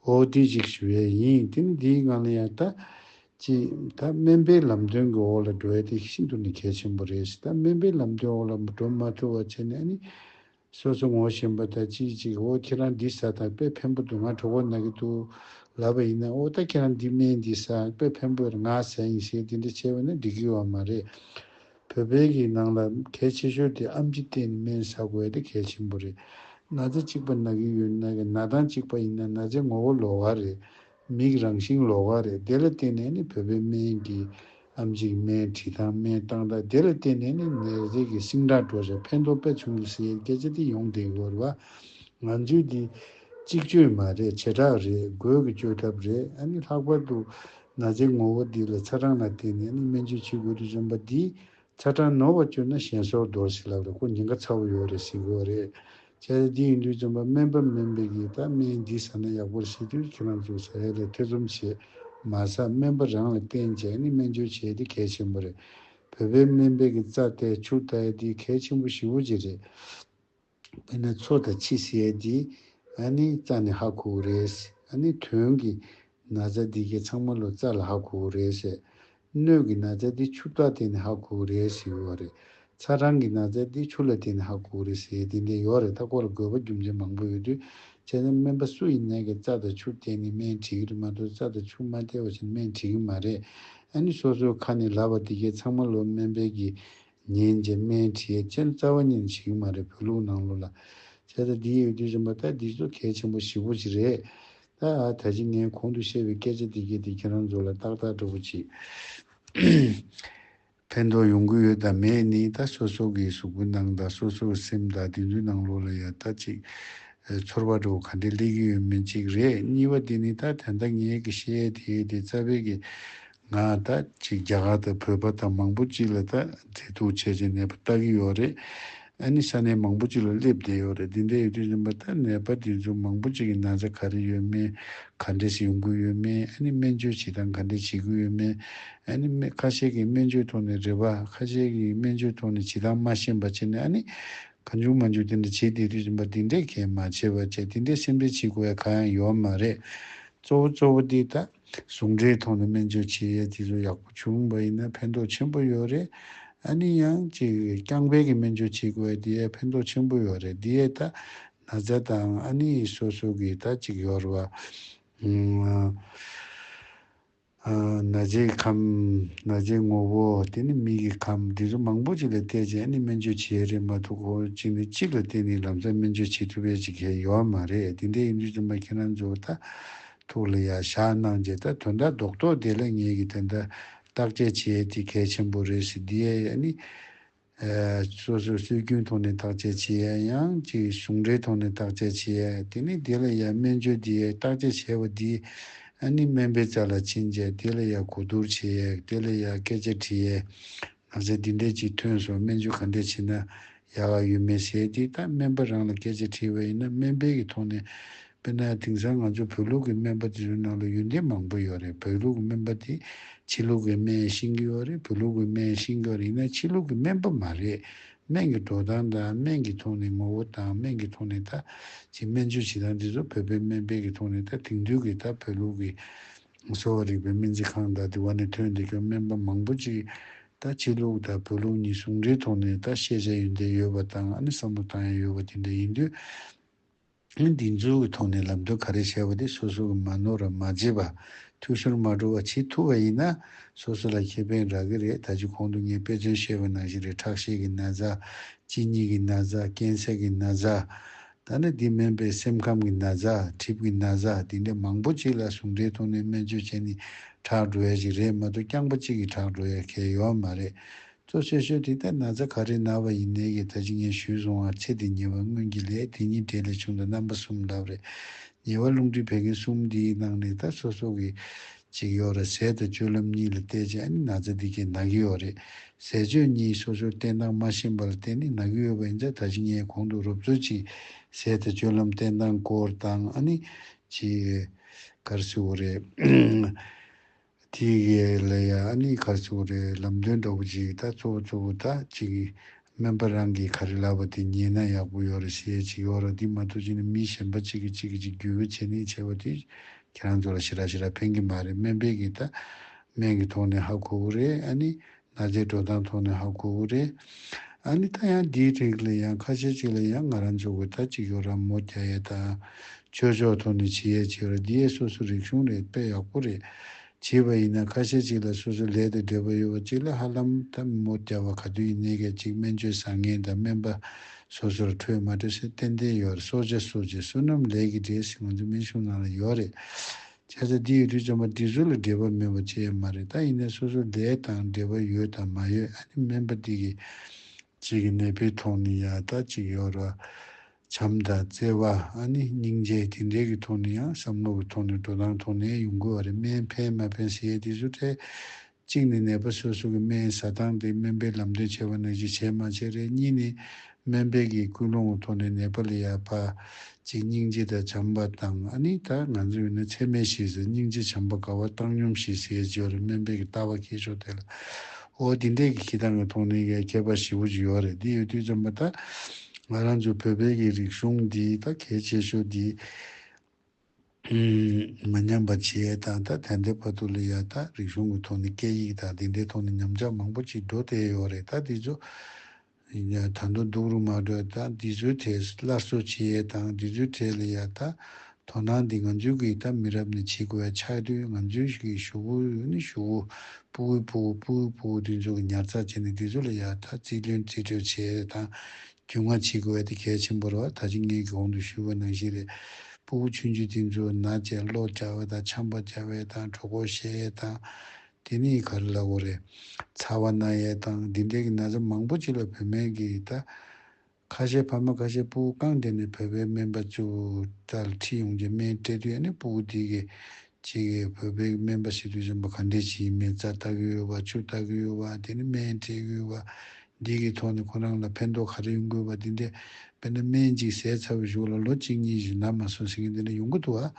ཨོ་དེ་ཅིག་ཞི་བའི་ཡིན་དེ་ནི་དེའི་ངང་ལ་ཡང་ད། ཅི། ད་སྨན་པའི་ལམ་སྟོན་གྱི་འོག་ལ་འགྲོ་ཡ་དེ་ཤིན་ཏུ་ནས་གལ་ཆེན་པོ་རེད། ད་སྨན་པའི་ལམ་སྟོན་འོག་ལ་འགྲོ་མ་ཐུབ་བ་བྱས་ནས་ཨ་ནེ། སོ་སོ་ངོ་ཞེན་པ་དང་ཅིག་ཅིག་འོ་ཁྱེད་རང་འདི་ཟ་དང་དཔེ་ཕན་པོ་འདུག་ང་གྲོགས་པོ་ན་གི་འདུག་ལབ་པ་ཡིན་ན་ཨོ་ད་ཁྱེད་རང་འདི་སྨན་འདི་ཟ་དཔེ་ཕན་པོ་ང་ཟ་ཡིན་ཞེས་འདི་འདྲ་བྱས་པ་ནི་འགྲིག་གི་བ་མ་རེད། བོད་པའི་གི་ནང་ལ་གལ་ཆེ་ཤོས་དེ་ཨམ་ཆི་སྟེ་ནི་སྨན་ཟ་དགོས་དེ་གལ་ཆེན་པོ་རེད། ན་ཚ་གཅིག་པ་ན་གི་ཡོད་ན་གི་ན་ཐང་གཅིག་པ་ཡིན་ན་ན་ཚའི་ངོ་བོ་ལོག་བ་རེད། མིག་རང་ཞིང་ལོགས་ཀ་རེད་དེ་ལ་བརྟེན་ནས་ནི་བོད་པའི་སྨན་གྱི་ཨམ་གཅིག་སྨན་བྲིས་ཐང་སྨན་བཏང་དང་དེ་ལ་བརྟེན་ནས་ནི་ནད་རྫས་ཀྱི་སིང་སྒྲ་སྒྲོག་བྱ་ཕན་ཐོག་པད་བྱུང་གི་ཟེར་ཡས་སྐད་ཆ་དེ་ཡོང་དེ་གོར་བ་ང་ཚོའི་དེ་གཅིག་བཅོས་མ་རེད་བྱེ་བྲག་རེད་དགོས་ཀྱི་བཅོས་ཐབས་རེད་ཨ་ནི་ལྷག་པར་དུ་ན་ཚའི་ངོ་བོ་འདི་ལ་ཚ་གྲང་ལ་བརྟེན་ནས་ནི་སྨན་བཅོས་བྱེད་དགོས་དུ་འཇོམས་པ་འདི་ཚ་གྲང་ནོར་བ་གྱུར་ན་གཞན་སོར་རྡོར་ཞིག་ལབ་རེ་ཁོ་ཉེན་ཁ་ཚ་བོ་ཡོད་རེ་ཞིག་དགོས་རེད། བྱས་ཙང་འདི་ཡིན་དུས་རྩོམ་པ་སྨན་པ་མིན་པའི་གིས་ད་སྨན་འདི་ཟ་ན་ཡག་པོར་ཤེས་དུས་ཁྱེད་རང་ཚོ་ཟ་ཡ་ལས་ཐེ་ཚོམ་བྱེད་མ་ཟ་སྨན་པ་རང་ལ་བསྟེན་བྱས་ནས་སྨན་བཅོས་བྱས་དེ་གལ་ཆེན་པོ་རེད། བོད་པའི་སྨན་པའི་གི་རྩ་བལྟས་ཕྱུགས་བལྟ་ཡ་འདི་གལ་ཆེན་པོ་ཞི་བོ་ཅིག་རེད། དེ་ནས་ཚོ་དང་ཕྱི་བཤད་དེ་ནི་རྩ་ནི་ཧ་ཁུག་རེད། ནི་དོན་གྱི་ན་བཟའ་འདི་གའི་ཚང་མ་ལོ་རྩ་ལ་ཧ་ཁུག་རེད། སྣོད་ཀྱི་ན་བཟའ་འདི་ཆུ་བཏགས་དེ་ནི་ཧ་ཁུག་རེད་ཟེར་བ་རེད། ཚ་གྲང་གི་ན་བཟའ་འདི་ཆུ་ལ་དེ་ནི་ཧ་ཁུག་རེད་ཟེར་དེ་འདྲའི་ཡོག་རེད་ད་ཁོ་ལ་དགོས་པ་རྒྱུ་མཚན་མང་པོ་ཡོད་དུས་བྱས་ན་སྨན་པ་སུ་ཡིན་ནད་ཀྱི་རྩ་དང་ཆུ་བསྟེན་ནི་སྨན་བྲིས་ཀྱི་རེད་མ་གཏོགས་རྩ་དང་ཆུ་མ་བསྟེན་བ་བཞིན་སྨན་བྲིས་ཀྱི་མ་རེད། ནི་སོ་སོའི་ཁ་ནས་ལབ་པ་འདི་གའི་ཚང་མ་ལོ་སྨན་པའི་གི་ཉིན་གྱི་སྨད་དཀྲིས་སྤྱིར་རྩ་བ་ཉིན་ཞིག་མ་རེད་བོད་ལུགས་ནང་ལོ་ལ་བྱས་ད་འདི་ཡོད་དུས་རིམ་པ་ད་འདི་ཚོ་གལ་ཆེན་པོ་བཞི་པོ་ཅིག་རེད་ད་ཨ་ད་ཅི་ངས་གོང་དུ་བཤད་པའི་སྐད་ཆ་འདི་གལ་ཏེ་ཁྱེད་རང་ཚོ་ལ་ཏག་ཏག་འདྲ་བོ་ཅིག་ཕན་ཐོག་ཡོང་གི་ཡོད་དང་མེད་ནི་ད་སོ་སོ་གི་གཟུགས་པོ་ནང་ད་སོ་སོ་སེམས་ད་འདི་ཚོའི་ནང་ལོ་ལ་ཡ་ད་ཅིག་ཚོར་བ་འདྲ་བོ་ག་འདྲས་སླེབས་ཀྱི་ཡོད་མིན་ཅིག་རེད་གཉིས་པ་འདི་ནི་ད་དན་ད་ངས་གི་བཤད་དེ་དེ་རྩ་བའི་གི་ང་ད་ཅིག་རྒྱ་གར་དང་བོད་པ་དང་མང་པོ་ཅིག་ལ་ད་མཛེས་སྡུག་བྱས་བྱས་ནད་པ་བལྟ་གི་ཡོད་རེད། ཨ་ནི་ས་གནས་མང་པོ་ཅིག་ལ་སླེབས་བསྡད་ཡོད་རེད་འདི་འདྲའི་ཡོད་དུས་རིམ་པ་ད་ནད་པ་འདི་ཚོ་མང་པོ་ཅིག་གི་ན་ཚ་ག་རེ་ཡོད་མེད་ག་འདྲས་སུ་ཡོང་གི་ཡོད་མེད་ཨ་ནི་སྨན་བཅོས་བྱེད་སྟངས་ག་འདྲས་བྱེད་ཀྱི་ཡོད་མེད་ཨ་ནི་སྨན་ཁ་ཤས་ཀྱི་སྨན་བཅོས་ཐོག་ནས་རེ་བ་ཁ་ཤས་ཀྱི་སྨན་བཅོས་ཐོག་ནས་བྱེད་སྟངས་མ་ཤེས་པ་བྱས་ནས་ཨ་ནི་གང་བྱུང་མ་འཇུག་དེ་འདྲ་བྱེད་བསྡད་དུས་རིམ་པ་འདི་འདྲས་གལ་མ་ཆེ་བ་བྱས་དེ་འདྲས་སེམས་ཁྲལ་བྱེད་དགོས་ཡ་ག་ཡང་ཡོད་མ་རེད་གཙོ་བོ་གཙོ་བོ་དེ་ད། ཟུང་འབྲེལ་ཐོག་ནས་སྨན་བཅོས་བྱེད་ཡས་དེ་ཚོ་ཡག་པོ་བྱུང་བ་ཡིན་ན་ཕན་ཐོགས་ཆེན་པོ་ཡོད་རེད། ཨ་ནི་ཡང་ཅིག་རྐྱང་འཕེལ་གྱི་སྨན་བཅོས་བྱེད་དགོས་བས་དེ་ཡས་ཕན་ཐོགས་ཆེན་པོ་ཡོད་རེད་དེ་ཡས་ད་ན་ཛ་དང་ཨ་ནི་ཡི་སོ་སོ་གི་ད་ཅིག་ཡོར་བ། ན་རྗེ་ཡི་ཁམས། ན་རྗེའི་ངོ་བོ། དེ་ནི་མིག་གི་ཁམས་དེ་ཚོ་མང་པོ་ཅིག་ལ་བལྟས་ཅིང་ཨ་ནི་སྨན་བཅོས་བྱེད་ཡས་རེད་མ་ཐུག་གོ་གཅིག་ནི་གཅིག་ལ་བལྟས་ནས་ལམ་སང་སྨན་བཅོས་བྱེད་ཐུབ་ཡས་ཅིག་ཡས་ཡོར་མ་རེད་དེ་འདྲའི་ཡིན་དུས་ཚོད་མ་ཁྱེད་རང་ཚོ་ད་ཐུགས་ལ་ཡར་བཞག་གནང་རྗེས་ད་དོན་དག་རྡོག་རྡོག་དེ་ལ་ངེད་ཀྱིས་དེ་འདྲ་བརྟག་དཔྱད་བྱེད་ཡས་དེ་གལ་ཆེན་པོ་རེད་ཟེར་དེ་ཡས་ཡས་ནི། སོ་སོའི་སྲོལ་རྒྱུན་ཐོག་ནས་བརྟག་དཔྱད་བྱེད་ཡས་ཡང་གཅིག་གཞུང་འབྲེལ་ཐོག་ནས་བརྟག་དཔྱད་བྱེད་ཡས་དེ་ནི་དེ་ལ་ཡར་སྨན་བཅོས་དེ་ཡས་བརྟག་དཔྱད་བྱས་པ་དེ་ནི་སྨན་པའི་རྩ་ལ་ཕྱིན་རྗེས་དེ་ལ་ཡར་གོ་བསྡུར་བྱེད་ཡས་དེ་ལ་ཡར་སྐད་ཆ་དྲིས་ཡས་ང་ཚས་འདི་འདྲས་ཅིག་ཐོན་སོང་སྨན་བཅོས་ག་འདྲས་བྱེད་ན་ཡག་ག་ཡོད་མེད་ཟེར་དེ་ད་སྨན་པ་རང་ལ་སྐད་ཆ་དྲིས་པ་ཡིན་ན་སྨན་པའི་གི་ཐོག་ནས་དཔེར་ན་དེང་སང་ང་ཚོ་བོད་ལུགས་ཀྱི་སྨན་པ་དེ་ཚོའི་ནང་ལ་ཡོན་ཏན་མང་པོ་ཡོད་རེད་བོད་ལུགས་ཀྱི་སྨན་པ་དེ་ཕྱི་ལུགས་ཀྱི་སྨན་ཤིང་གི་ཡོད་རེད་བོད་ལུགས་ཀྱི་སྨན་ཤིང་གི་ཡིན་ན་ཕྱི་ལུགས་ཀྱི་སྨན་པ་མ་རེད་སྨན་གྱི་འགྲོ་སྟངས་དང་སྨན་གྱི་ཐོག་ནས་ངོ་བོ་དང་སྨན་གྱི་ཐོག་ནས་ད་ཅིག་སྨན་བཅོས་བྱེད་སྟངས་དེ་ཚོ་བོད་པའི་སྨན་པའི་གི་ཐོག་ནས་ད་དེང་དུས་ཀྱི་ད་བོད་ལུགས་ཀྱི། གསོ་བ་རིག་པའི་སྨན་རྩིས་ཁང་དང་དེ་བ་ནས་ཐོན་འདི་སྐབས་སྨན་པ་མང་པོ་ཅིག་ད་ཕྱི་ལུགས་དང་བོད་ལུགས་གཉིས་ཟུང་འབྲེལ་ཐོག་ནས་ད་ཤེས་བྱ་ཡོན་ཏན་ཡོད་པ་དང་ཨ་ནི་བསམ་བློ་བཏང་ཡ་ཡོད་པ་དེ་འདྲ་ཡིན་དུས། ཨན་དེ་ཚོའི་གི་ཐོག་ནས་ལབ་འདོད་ག་རེ་བྱས་པ་དེ་སོ་སོ་གི་མ་ནོར་ར་མ་བརྗེད་པ་ཐུགས་ཤོར་མ་འགྲོ་བ་བྱེད་ཐུབ་བ་ཡིན་ན་སོ་སོ་ལ་ཁེ་ཕན་རག་གི་རེད་ད་ཅི་གོང་དུ་ངས་དཔེ་མཚོན་བཤད་པ་ནང་བཞིན་རེད་ཁྲག་ཤེད་གི་ན་བཟའ། གཅིན་སྙི་གི་ན་བཟའ་སྐེ་ཚེག་གི་ན་བཟའ། ད་ནི་འདི་སྨན་པས་སེམས་ཁམས་ཀྱི་ན་བཟའ་གྲིབ་ཀྱི་ན་བཟའ་དེ་འདྲའི་མང་པོ་ཅིག་ལ་ཟུང་འབྲེལ་ཐོག་ནས་སྨན་བཅོས་བྱས་ནས་དྲག་འགྲོ་ཡ་ཞིག་རེད་མ་གཏོགས་རྐྱང་པ་གཅིག་གིས་དྲག་འགྲོ་ཡ་གལ་ཡོད་མ་རེད། གཙོ་ཆེ་ཤོས་དེ་ལྟའི་ན་བཟའ་ག་རེ་ན་བ་ཡིན་ནའི་ཡི་ད་ཅི་ངས་ཞུས་སོང་ཨ་ཚེ་འདི་ཉེ་བའི་སྔོན་གྱི་ལས་དེ་གཉིས་གྲས་ལས་བྱུང་དང་རྣམ་པ་གསུམ་ལབ་རེད། ཉེ་བ་རླུང་མཁྲིས་བད་ཀན་གསུམ་འདིའི་ནང་ནས་ད་སོ་སོ་གི། གཅིག་ཡོད་རེད་ཟས་དང་སྤྱོད་ལམ་གཉིས་ལ་བལྟས་ཀྱང་ཨ་ནི་ན་ཚ་འདི་གས་ན་གི་ཡོད་རེད། ཟས་སྤྱོད་གཉིས་སོ་སོར་བལྟས་སྟངས་མ་ཤེས་པ་ལ་བརྟེན་ནས་ན་གི་ཡོད་པ་ཨིན་ཙང་ད་ཅིག་ངས་གོང་དུ་རོབ་ཚོད་ཅིག་ཟས་དང་སྤྱོད་ལམ་བལྟས་སྟངས་སྐོར་དང་ཨ་ནི། ཅི། གར་སི་བོ་རེད། དེ་གས་ལ་ཡ་ཨ་ནི་གར་སི་བོ་རེད་ལམ་སྟོན་འདྲ་བོ་ཅིག་ད་གཙོ་བོ་གཙོ་བོ་ད་ཅིག་སྨན་པ་རང་གིས་ག་རེ་ལབ་པ་དེ་ཉན་ན་ཡག་པོ་ཡོད་རེད་བཤད་ཡས་ཆིག་ཡོད་ར་འདི་མ་ཐུག་ཅིག་ནས་མི་གཞན་པ་གཅིག་གིས་གཅིག་གིས་ཅིག་རྒྱུས་བོད་བྱེད་ནས་བྱས་པ་དེ་ཁྱེད་རང་ཚོ་ལ་ཞི་ར་ཞི་ར་ཕན་གི་མ་རེད་སྨན་པས་གིས་ད་སྨན་གི་ཐོག་ནས་ཧ་གོ་བོ་རེད་ཨ་ནི་ན་རྫས་འགྲོ་སྟངས་ཐོག་ནས་ཧ་གོ་བོ་རེད་ཨ་ནི་ད་ཡང་འདིའི་རིགས་ལ་ཡང་ཁ་ཤས་ཅིག་ལ་ཡང་ང་རང་ཚོ་གིས་ད་ཅིག་ཡོད་ར་མོ་རྒྱ་ཡས་དང་ཆོས་ཕྱོགས་ཐོག་ནས་བྱེད་ཡས་ཆིག་ཡོད་ར་འདི་ཡས་སོ་སོ་རིགས་གཞུང་རེད་དཔེ་ཡག་པོ་རེད་བྱས་པ་ཡིན་ན་ཁ་ཤས་ཅིག་ལ་སོ་སོའི་ལས་དེ་འདོད་པ་ཡོད་པ་གཅིག་ལ་ཧ་ལམ་ཐབས་མི་མོ་བརྒྱབ་པ་ག་དུས་ཡིན་གནས་སྐད་ཅིག་སྨན་བཅོས་བཟང་ངན་དང་སྨན་པ་སོ་སོར་འཕྲོད་མ་འཕྲོད་སེ་ཏན་ཏན་ཡོད་རེད་སོ་བྱས་སོ་བྱས་བསོད་ནམས་ལས་ཀྱི་འབྲས་ཤིག་ང་ཚོའི་སྨན་གཞུང་ནང་ལ་ཡོད་རེད། ཁྱད་ཆ་འདི་ཡོད་དུས་ཙམ་པ་འདི་སུ་ལ་འབྲེལ་བ་མེད་པ་ཅི་ཡང་མ་རེད་ད་ཡིན་ན་སོ་སོའི་ལས་དང་འབྲེལ་བ་ཡོད་དང་མ་ཡོད་ཨ་ནི་སྨན་པ་འདི་གིས་གཅིག་གི་ནད་པའི་ཐོག་ནས་ཡང་ལྟ་གཅིག་ཡོད་ར། བྱམས་དང་བརྩེ་བ་ཨ་ནི་སྙིང་རྗེ་དེ་འདྲའི་གི་ཐོག་ནས་ཡང་བསམ་བློ་གི་ཐོག་ནས་འགྲོ་སྟངས་ཐོག་ནས་ཡོང་དགོས་བ་རེད་སྨན་ཕན་མ་ཕན་ཟེར་ཡས་དེ་ཚོ་ཐད། གཅིག་ནས་ནད་པ་སོ་སོ་གི་སྨན་ཟ་སྟངས་དེ་སྨན་པས་ལམ་སྟོན་བྱས་བ་ནང་བཞིན་བྱས་མ་བྱས་རེད་གཉིས་ནས། སྨན་པས་གི་སྐུལ་སློང་གི་ཐོག་ནས་ནད་པ་ལ་ཡང་ཕ། གཅིག་སྙིང་རྗེ་དང་བྱམས་པ་དང་ཨ་ནི་ད་ང་ཚོ་ཡོད་ན་ཚད་མེད་ཞིག་ཟེར་སྙིང་རྗེ་བྱམས་པ་དགའ་བ་བཏང་སྙོམས་ཞིག་ཟེར་ཡས་བརྗོད་རེད་སྨན་པས་གི་ལྟ་བ་ཁྱེད་ཕྱོགས་དེ་ལ། ཨོ་དེ་འདྲས་ཀྱི་ཁྱེད་རང་གི་མཐོང་སྣེ་གས་ཁྱད་པར་ཞི་བོ་ཅིག་ཡོད་རེད་འདི་ཡོད་དུས་བྱམས་པ་ད་ང་རང་ཚོའི་བོད་པའི་གི་རིག་གཞུང་འདི་ད་གལ་ཆེ་ཤོས་འདི་མི་ཉམས་པ་བྱས་དང་ད་དན་ཏའི་བར་དུ་ལ་ཡ་ད་རིག་གཞུང་གི་ཐོག་ནས་སྐད་ཡིག་དང་དེ་འདྲའི་ཐོག་ནས་ཉམས་ཆག་མང་པོ་ཅིག་འགྲོ་བསྡད་ཡོད་རེད་ད་འདི་ཚོ། ད་མདོ་འདུག་རུ་མ་གྲོས་དང་འདི་ཚོའི་གྲས་སླར་གསོ་བྱེད་ཡས་དང་འདི་ཚོའི་གྲས་ལ་ཡ་ད་དོ་སྣང་འདི་ང་ཚོའི་གིས་ད་མི་རབས་ནས་བྱེད་དགོས་ཡ་ཆགས་དུས་ང་ཚོའི་གིས་བཞུགས་བུ་བུ་ནི་བཞུགས་བུ་སྤུ་བོའི་སྤུ་བོ་སྤུ་བོའི་སྤུ་བོ་འདི་ཚོ་གིས་ཉར་ཚགས་བྱེད་ནས་འདི་ཚོ་ལ་ཡ་ད་རྩིས་ལོན་རྩིས་སྤྲོད་བྱེད་ཡས་དང་རྒྱུས་མངའ་བྱེད་དགོས་ཡ་འདི་གལ་ཆེན་པོ་རེད་བ་ད་ཅི་ངའི་གིས་གོང་དུ་ཞུས་པ་ནང་བཞིན་རེད་སྤུ་བོ་ཆུང་བྱུས་འདི་ཚོ་ན་བྱས་ཀློག་རྒྱག་བས་དང་འཆམ་པ་རྒྱག་བས་དང་གྲོ་གོར་བཤད་ཡས་དང། དེ་ནི་ག་རེ་ལ་བོ་རེད། ཚ་བ་སྣ་ཡལ་དང་འདི་འདྲའི་གི་ན་ཚ་མང་པོ་ཅིག་ལ་བོད་སྨན་གི་ད། ཁ་ཤས་ཕ་མ་ཁ་ཤས་སྤུ་བོ་རྐང་བསྡད་ནས་བོད་པའི་སྨན་པ་ཚུ་བོ་ད་ལ་ཁྲིད་ཡོང་རྗེས་སྨན་སྤྲད་དུས་ཨ་ནི་སྤུ་བོ་འདི་གི། ཅི་གི་བོད་པའི་གི་སྨན་པ་ཞིག་ཏུ་བྱོན་པ་ག་འདྲས་ཅིག་ཡིན་མེད་རྩ་ལྟ་གི་ཡོད་བ་ཆུ་ལྟ་གི་ཡོད་བ་དེ་ནི་སྨན་སྤྲད་གི་ཡོད་བ། འདི་གི་ཐོག་ནས་ཁོ་རང་ལ་ཕན་ཐོག་ག་རེ་ཡོང་དགོས་བ་འདི་འདྲས་དཔེར་ན་སྨན་ཅིག་ཟས་ཚ་བོ་ཞོག་ལ་ལོ་གཅིག་གཉིས་བཞིན་ན་མ་སོང་ཟེར་གི་འདི་འདྲས་ཡོང་གི་འདུག་བ།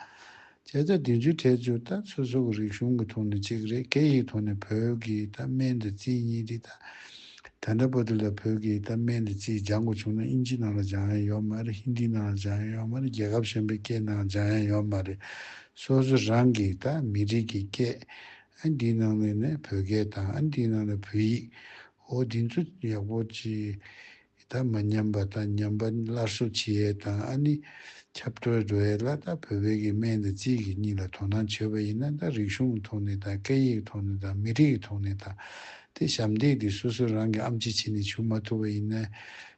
བྱས་ཙང་དེ་མཇུག་འཕྲད་རྒྱུ་ད་ཚོད་སོ་གི་རིག་གཞུང་གི་ཐོག་ནས་གཅིག་རེད་སྐད་ཡིག་ཐོག་ནས་བོད་ཀྱི་ད་སྨན་དེ་རྩིས་གཉིས་རེད་ད། ད་འདྲ་པོ་དེ་ལ་བོད་ཀྱི་ད་སྨན་དེ་རྩིས་སྦྱང་དགོས་བྱུང་ན་ཨིན་ཇི་ནང་ལ་སྦྱང་ཡ་ཡོད་མ་རེད་ཧིན་དི་ནང་ལ་སྦྱང་ཡ་ཡོད་མ་རེད་རྒྱལ་ཁབ་གཞན་པའི་སྐད་ནང་སྦྱང་ཡ་ཡོད་མ་རེད། སོ་སོ་རང་གི་ད་མི་རིགས་ཀྱི་སྐད། ཨན་དེའི་ནང་ནས་ནས་བོད་སྐད་དང་ཨན་དེའི་ནང་ནས་བོད་ཡིག། འོ་དེ་ཚོ་ཡག་པོ་ཅི། ཡི་དྭགས་མ་ཉམས་པ་དང་ཉམས་པ་སླར་གསོ་བྱེད་ཡས་དང་ཨ་ནི་ཁྱབ་སྤྲོད་དུ་ཨེ་ལ་དང་བོད་བོད་ཀྱི་སྨན་དང་རྩིས་ཀྱི་གཉིས་ལ་དོ་སྣང་བྱེད་པ་ཡིན་ན་དང་རིག་གཞུང་གི་ཐོག་ནས་དང་སྐད་ཡིག་གི་ཐོག་ནས་དང་མི་རིགས་ཀྱི་ཐོག་ནས་དང་དེ་ཞབས་འདེགས་དེ་སོ་སོ་རང་གི་ཨམ་ཆི་ཆི་ནས་བྱུག་མ་ཐུབ་པ་ཡིན་ན་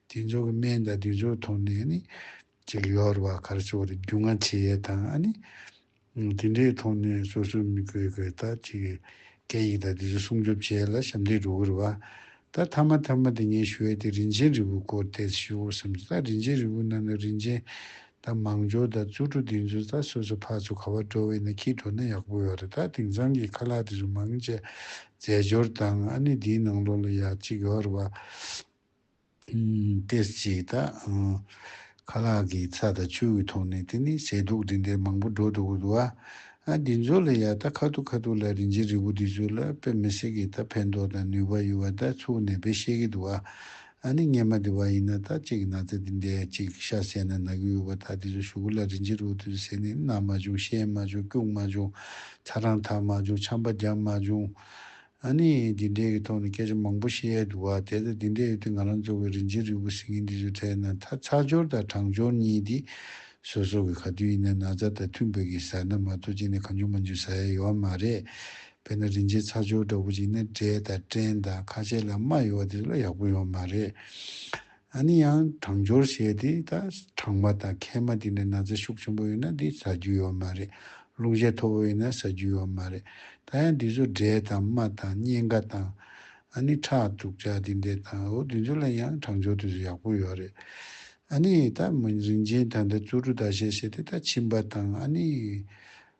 དེ་ཚོ་གི་སྨན་དང་དེ་ཚོ་གི་ཐོག་ནས་ཨ་ནི་ཅིག་ཡོར་བ་གར་སོ་བ་རེ་རྒྱུ་ང་བྱེད་ཡས་དང་ཨ་ནི་དེ་འདྲའི་ཐོག་ནས་སོ་སོའི་མི་བཀོལ་བཀོལ་ལྟར་གཅིག་གིས་སྐད་ཡིག་དང་དེ་ཚོ་སྲུང་སྐྱོབ་བྱས་ལ་ཞབས་འདེགས་འགྲོ་གི་རེད་བ། ད་མཐའ་མ་ཐ་མ་དེ་ཉན་ཞུ་ཡས་དེ་རིན་ཆེན་རི་བོའི་སྐོར་བལྟས་ཚེ་ཞུ་བོ་བསམ་ཚེ་ད་རིན་ཆེན་རི་བོའི་ནང་ན་རིན་ཆེན་དང་མང་ཇོ་དང་བཙུར་གྲོ་དེ་ཚོ་ད་སོ་སོ་ཕར་ཚུར་ག་བར་འགྲོ་བའི་ན་ཁྱིས་འགྲོ་ན་ཡག་པོ་ཡོག་རེད་ད་དེང་སང་གི་ཁ་ལག་དེ་ཚོ་མང་ཆེ་རྫས་སྦྱོར་དང་ཨ་ནི་དེའི་ནང་ལོག་ལ་ཡག་གཅིག་ཡོག་རེད་བ། སྟེར་གཅིག་དག། ཁ་ལག་གི་ཚ་དང་ཆུ་ཡི་ཐོག་ནས་དེ་ནི་ཟས་དུག་འདི་འདྲའི་མང་པོ་འགྲོ་འདུག་གོ། ཨ་འདི་ཚོ་ལ་ཡག་ད་ཁ་ཐུག་ཁ་ཐུག་ལ་རིན་ཆེན་རིལ་བུ་འདི་ཚོ་ལ་དཔེ་མི་སྲིད་གི་ད་ཕན་ཐོག་དང་ནུས་པ་ཡོད་བ་ད་ཚུགས་ནས་དཔེ་བཤད་གི་འདུག་ཨ་ནི་སྙེ་མ་འདི་བ་ཡིན་ན་ད་ཅིག་ན་ཚ་འདི་འདྲའི་ཅིག་ཤ་བསད་ན་ན་གི་ཡོད་བ་ད་འདི་ཚོ་ཞུ་གུ་ལ་རིན་ཆེན་རིལ་བུ་འདི་ཚོ་ཟས་ནི་ན་མ་བྱུང་ཤན་མ་བྱུང་སྐྱུགས་མ་བྱུང་ཚ་གྲང་འཐག་མ་བྱུང་ཆམ་པ་བརྒྱབ་མ་བྱུང། ཨཱ་ནི། འདི་འདྲའི་གི་ཐོག་ནས་སྐད་ཆ་མང་པོ་བཤད་ཡས་འདུག་བ་དེ་དང་འདི་འདྲའི་ཡོད་དུས་ང་རང་ཚོ་བའི་རིན་ཆེན་རིལ་བུ་ཟིན་ངེ་འདི་ཚོའི་ཐད་ནས་མཐའ་ཚགས་སྦྱོར་དང་དྲང་སྦྱོར་གཉིས་འདི་བཟོ་སོགས་གི་ག་དུས་ཡིན་ན་ན་ཚ་དང་མཐུན་དཔེ་གི་ཟེར་ན་མ་གཏོགས་ཅི་ནས་གང་འཇུག་མ་འཇུག་ཟ་ཡས་ཡོའ་མ་རེད། དཔེར་ན་རིན་ཆེན་ཚགས་སྦྱོར་འདྲ་བོ་ཅིག་ནས་འབྲས་དང་སྐྲན་དང་ཁ་ཆེ་ལ་རྨ་ཡོའ་དེ་ཚོ་ལ་ཡག་པོ་ཡོའ་མ་རེད། ཨ་ནི་ཡང་གྲང་སྦྱོར་བྱས་ཏེ་ད་གྲང་མ་དང་ཁལ་མ་དེ་ནས་ན་ཚ་ཤུགས་ཆེན་པོ་ཡོད་ན་དེ་ཟ་རྒྱུ་ཡོད་མ་རེད་རླུང་ཤས་མཐོ་བོ་ཡོད་ན་ཟ་རྒྱུ་ཡོད་མ་རེད་ད་ཡང་དེ་ཚོ་འབྲས་དང་རྨ་དང་སྙན་ག་དང། ཨ་ནི་ཁྲག་དུག་ཅག་དེ་འདྲས་དང་འོ་དེ་ཚོ་ལ་ཡང་གྲང་སྦྱོར་དེ་ཚོ་ཡག་པོ་ཡོད་རེད། ཨ་ནི་ད་མི་རིན་ཆེན་ད་འདྲ་བཙོ་བཀྲུ་ད་བྱས་བྱས་ཏེ་ད་མཆིན་པ་དང་ཨ་ནི།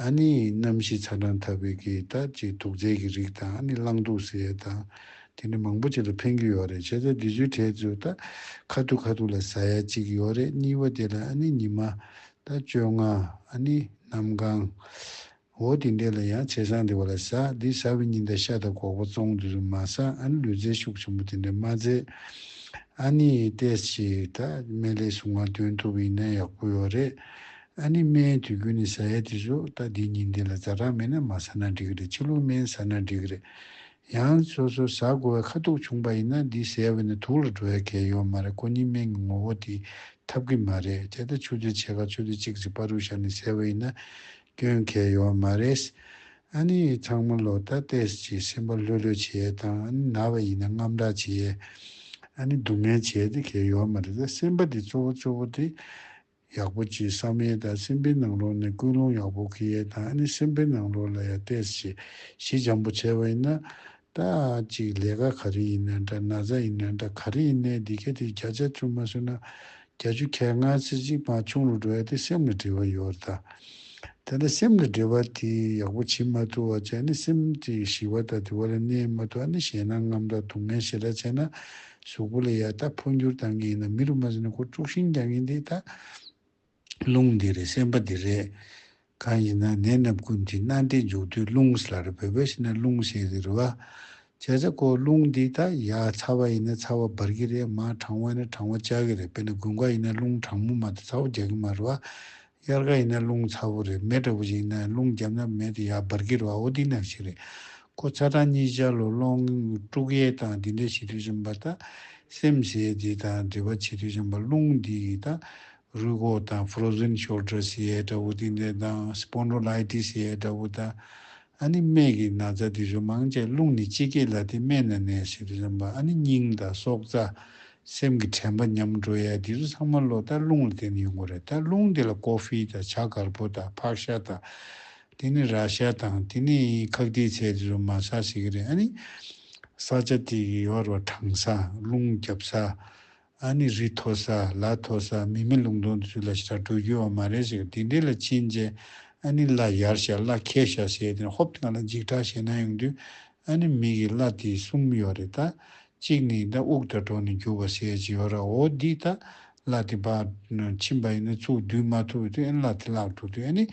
ཨཱ་ནི། རྣམ་ཤེས་ཚ་གྲང་འཐབ་པའི་གེགས་ལྟ་ཅི་དུག་རྫས་ཀྱི་རིགས་དང་ཨཱ་ནི་གླང་དུག་ཟས་དང། དེ་འདྲ་མང་པོ་ཅིག་ལ་ཕན་རྒྱུ་ཡོད་རེད་བྱས་ཙང་དེ་ཚོའི་གྲས་ཚོས་ལྟ། ཁ་ཐུག་ཁ་ཐུག་ལ་ཟ་ཡ་གཅིག་ཡོད་རེད་གཉིས་པ་དེ་ལ་ཨཱ་ནི་ཉི་མ། ལྟ་བཅོ་ལྔ། ཨཱ་ནི། གནམ་གང། འོ་དེ་འདྲས་ལ་ཡང་བྱས་ཙང་དེ་བ་ལ་ཟ། དེ་ཟ་བའི་ཉིན་ལྟ་ཤ་དང་གོག་པ་བཙོང་དེ་ཚོས་མ་ཟ་ཨཱ་ནི་ལུས་རྩལ་ཤུགས་ཆེན་པོ་དེ་འདྲས་མ་མཛད། ཨཱ་ནི། ཏེས་ཅིག་ལྟ། སྨན་ལས་སུ་ང་དོན་ཐུབ་ཡིན་ན་ཡག་པོ་ཡོད་རེད། ཨ་ནི་སྨན་དུས་རྒྱུན་ནས་ཟ་ཡ་དེ་ཟོ་ད་འདི་ཉིན་འདི་ལ་རྫ་སྦྲང་མེད་ན་མ་ཟ་ན་འགྲིག་གི་རེད་ཕྱི་ལུགས་སྨན་ཟ་ན་འགྲིག་གི་རེད། ཡང་སོ་སོ་ཟ་དགོ་བའི་ཁ་ཐུག་བྱུང་པ་ཡིན་ན་འདི་ཟས་འོས་ནས་དུག་ལ་འགྲོ་ཡ་གལ་ཡོད་མ་རེད་ཀོ་གཉིས་སྨན་གྱི་ངོ་བོ་དེ་འཐབ་གི་མ་རེད་དེ་ལྟ་ཆུ་ཚོད་ཕྱེད་ཀ་ཆུ་ཚོད་གཅིག་ཟིག་པ་རུ་བཞག་ནས་ཟས་འོས་ཡིན་ན་སྐྱོན་གལ་ཡོད་མ་རེད། ཨ་ནི་ཚང་མ་ལོ་ད་ལྟས་ཀྱི་སེམས་པ་ལྷོད་ལྷོད་བྱས་ཡས་དང་ཨ་ནི་ན་བ་ཡིན་ན་རྔམ་སྐྲག་བྱས་ཡས་ཨ་ནི་སྡུག་བསྔལ་བྱས་ཡས་དེ་གལ་ཡོད་མ་རེད་ད་སེམས་པ་དེ་གཙོ་བོ་གཙོ་བོ་དེ་ཡག་པོ་གྱིས་བསམ་ཡས་དང་སེམས་པའི་ནང་ལོགས་ནས་ཀུན་སློང་ཡག་པོ་གི་ཡས་དང་ཨ་ནི་སེམས་པའི་ནང་ལོགས་ལ་ཡ་བལྟས་ཞེས་གཞི་འཇམ་པོ་བྱས་པ་ཡིན་ན། ད་ཅིག་ལས་ཀ་ག་རེ་ཡིན་ན་འདྲ་ན་བཟའ་ཡིན་ན་འདྲ་ག་རེ་ཡིན་ན་འདི་ག་དེ་བརྒྱ་ཆ་བཅུ་མ་ཟོས་ན་བརྒྱ་ཅུ་ཁྱད་མངའ་ཚེ་གཅིག་མ་ཆུང་རུ་འགྲོ་ཡ་དེ་སེམས་ལ་དྲི་བ་ཡོད་རེད་ད། དེ་འདྲ་སེམས་ལ་དྲི་བ་དེ་ཡག་པོ་བྱེད་མ་ཐུབ་བ་ཅི་ཨ་ནི་སེམས་དེ་ཞི་བ་དང་དུལ་བ་ལ་གནས་མ་ཐུབ་ཨ་ནི་ཞེད་སྣང་ངམ་དང་སྡུག་བསྔལ་ཞེ་དྲག་བྱས་ན་གཟུགས་པོ་ལ་ཡ་ད་འཕོ་འགྱུར་དང་ངེས་ན་མི་རུ་མ་ཟིན་ན་ཁོ་དཀྲུགས་ཤིང་རྒྱག་ངེས་འདི་ད། རླུང་འདི་རེད་སེམས་པ་འདི་རེད། གང་ཡིན་ན་ནད་སྣབས་ཀུན་གྱི་སྣ་འདི་འཇུག་དུས་རླུང་ཟེར་ལ་རེད་བོད་པས་ཤི་ན་རླུང་ཟེར་གི་རེད་བ། བྱས་ཚ་ཁོ་རླུང་འདི་ད་ཡ་ཚ་བ་ཡིན་ན་ཚ་བ་འབར་གི་རེད་མ་གྲང་བ་ཡིན་ན་གྲང་བ་བཅག་གི་རེད་དཔེར་ན་དགུན་ཁ་ཡིན་ན་རླུང་གྲང་མོ་མ་ད་ཚ་བོ་རྒྱག་གི་མ་རེད་བ། དབྱར་ཁ་ཡིན་ན་རླུང་ཚ་བོ་རེད་མེ་དྲག་པོ་ཞིག་ཡིན་ན་རླུང་རྒྱབ་ན་མེ་དེ་ཡར་འབར་གི་རེད་བ་འོ་འདི་ནང་བཞིན་རེད་ཁོ་ཚ་གྲང་གཉིས་ཆར་ལོ་སློང་དཀྲུག་གཡས་དང་འདི་འདྲ་བྱེད་དུས་བྱམས་པ་ད་སེམས་ཟས་འདི་དང་འབྲེལ་བ་བྱེད་དུས་བྱམས་པ་རླུང་འདི་ཡིས་ད་རུས་ཁོག་དང Frozen Shoulders ཡས་དྲ་བོ་འདི་འདྲ་དང Spondylitis ཡས་དྲ་བོ་ད་ཨ་ནི་སྨད་ཀྱི་ན་བཟའ་དེ་རི་མང་ཅན་རླུང་ནི་ཅི་སྐྱེས་ལ་དེ་སྨད་ན་ནད་ཞི་དེ་རིམ་པ་ཨ་ནི་སྙིང་དང་སྲོག་རྩ། སེམས་ཀྱི་དྲན་པ་ཉམས་འགྲོ་ཡ་དེ་རུ་ཚང་མ་ལོ་ལྟར་རླུང་ལ་བརྟེན་ནས་ཡོང་གོ་རེད་ད་རླུང་དེ་ལ་ཀོ་ཧྥི་དང་བྱ་གར་པོ་དང་ཕག་ཤ་དང། དེ་ནི་ར་ཤ་དང་དེ་ནི་ཁག་དེའི་ཚད་དེ་རུ་མ་ཟ་ཟེར་གི་རེད་ཨ་ནི། ས་ཆ་དེ་ཡི་ཡོར་བ་དྲང་ས་རླུང་རྒྱབ་ས། ཨ་ནི་རི་མཐོ་ས་ལ་མཐོ་ས་མི་མེད་ལུང་སྟོང་དུ་ཆུ་ལ་ཞག་དྲུག་རྒྱུ་བ་མ་རེད་ཟེར་གི་དེ་འདྲས་ལ་ཕྱིན་རྗེས་ཨ་ནི་བརླ་ཡར་ཤ་བརླ་ཁས་ཤ་ཟེར་དེ་ནས་ཧོབ་ལ་ལ་འཇིགས་སྐྲག་ཞེ་སྣང་ཡོང་དུས་ཨ་ནི་མི་གིས་བརླ་དེ་གསུམ་ཡོད་རེད་ད། གཅིག་ནི་ད་དབུགས་ད་དྲོ་ནས་རྒྱུ་བ་ཟེར་གྱི་ཡོད་ར་འོ་འདི་ད་བརླ་དེ་བར་ཕྱིན་པ་ཡིན་ན་ཚུགས་བསྡུས་མ་ཐུབ་བའི་དུས་ཨ་ནི་བརླ་དེ་བརླག་འགྲོ་དུས་ཨ་ནི་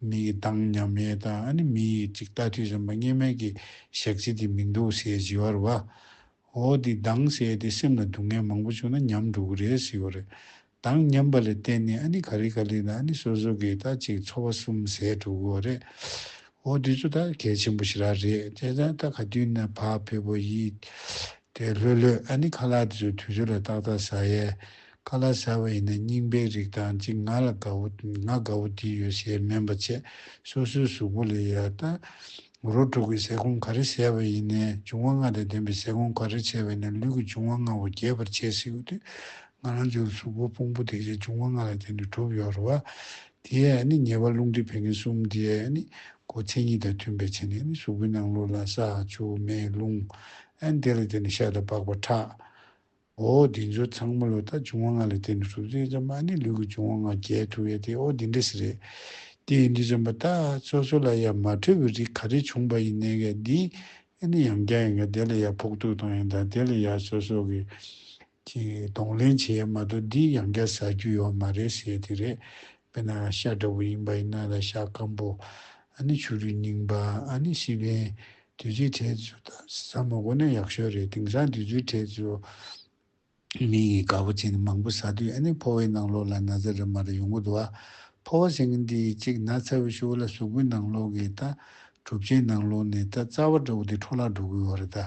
མི་གིས་འདང་སྙམ་མེད་ད་ཨ་ནི་མི་ཡིས་གཅིག་ལྟ་དུས་བསམ་པ་ངན་སྨྲས་ཀྱི་ཞག་གཅིག་དེ་མི་འདུག་ཟེར་གྱི་ཡོད་ར་བ། འོ་དེ་སྡང་ཞེས་ཏེ་སེམས་ལ་སྡུག་བསྔལ་མང་པོ་བྱུང་ན་ཉམས་འགྲོ་གི་རེད་ཟེར་བ་རེད། སྡང་ཉམས་པ་ལས་བརྟེན་ནས་ཨ་ནི་ག་རེ་ག་རེ་ལ་ཨ་ནི་སོ་སོ་གིས་ད་ཅིག་འཚོ་བ་གསུམ་ཟད་འགྲོ་གི་བ་རེད། འོ་དེ་ཚོ་ད་གལ་ཆེན་པོ་ཞིག་རག་རེད་བྱས་ཙང་ད་ག་དུས་ན་བག་ཕེབས་པོ་ཡིན། དེ་ལྷོད་ལྷོད་ཨ་ནི་ཁ་ལག་དེ་ཚོ་དུས་ཚོད་ལ་ཏག་ཏག་ཟ་ཡས། ཁ་ལག་ཟ་བ་ཡིན་ན་རྙིང་པའི་རིགས་དང་ཅིག་ང་ལ་དགའ་བོ་ང་དགའ་བོ་དེ་ཡོད་ཞེས་སྨན་པ་བཅས་སོ་སོའི་གཟུགས་པོ་ལས་ཡར་ལྟ། མགོ་རོ་དྲུག་གི་ཟས་སྐོམ་ག་རེ་བྱས་པ་ཡིན་ནས་འབྱུང་བ་ལྔ་དང་ལྡན་པའི་ཟས་སྐོམ་ག་རེ་བྱས་པ་ཡིན་ནས་ལུས་ཀྱི་འབྱུང་བ་ལྔ་བོ་རྒྱས་པར་བྱས་སྲིད་ཀྱི་དུས་ང་རང་ཅག་ལ་གཟུགས་པོ་སྤུངས་པོ་དེ་བྱས་འབྱུང་བ་ལྔ་ལ་བརྟེན་ནས་གྲུབ་ཡོད་རེད་བ། དེའི་ནི་ཉེས་པ་རླུང་མཁྲིས་བད་ཀན་གསུམ་དེའི་ནི་མགོ་མཚན་ཉིད་དང་མཐུན་པའི་ཕྱེ་ནས་ནི་གཟུགས་པོའི་ནང་ལུས་ལ་ས། ཆུ། མེ། རླུང། དེ་ལ་བརྟེན་ནས་ཤ་དང་པགས་པ་ཁྲག། ཨོ་དེ་ཚོ་ཚང་མ་ལོ་ལྟར་བྱུང་བ་ང་ལ་བལྟས་ནས་གྲུབ་ཚུལ་ཙམ་མ་ནི་ལུས་ཀྱི་བྱུང་བ་ང་རྒྱལ་ཐུབ་ཡ་དེ་ཨོ་དེ་འདྲ་ཞིག་རེད། དེ་ཡིན་དུས་ཅན་པ་ད་སོ་སོ་ལ་ཡ་མ་འཕྲོད་པའི་རིགས་ག་རེ་བྱུང་པ་ཡིན་ནའི་ག་འདི་ཨེ་ནི་ཡང་བསྐྱར་ཡིན་ག་དེ་ལ་ཡ་ཕོག་ཐུག་གཏོང་ཡ་དང་དེ་ལ་ཡ་སོ་སོ་གི་གདོང་ལེན་བྱེད་ཡ་མ་གཏོགས་འདི་ཡང་བསྐྱར་ཟ་རྒྱུ་ཡོད་མ་རེད་ཟེར་དེ་རེད། བས་ན་ཤ་འདྲ་བོ་ཡིན་པ་ཡིན་ན་ལ་ཤ་སྐམ་པོ་ནི་ཆུ་རུད་རྙིང་པ་ནི་ཤི་བའི་དུས་ཚོད་ཁྲལ་ཚུལ་དང་ཟ་མ་གོ་ན་ཡག་ཤོས་རེད་དེང་སང་དུས་ཚོད་ཁྲལ་ཚུལ་མིང་ཡི་ག་བོ་ཅན་ནི་མང་པོ་ཟ་དུས་ནི་ཕོ་བའི་ནང་ལོགས་ལ་ན་ཚ་རེ་མ་རེ་ཡོང་གི་འདུག་ཨ་ཕོ་བ་སེང་གེ་འདི་གཅིག་ན་ཚ་བའི་ཤུགས་ལ་གཟུགས་པོའི་ནང་ལོགས་ཀྱི་རྟ་གྲུབ་ཅན་ནང་ལོགས་ནས་རྟ་རྩ་བ་འདྲ་བོ་དེ་འཕྲོ་བརླག་འགྲོ་གི་ཡོད་རེད་ད་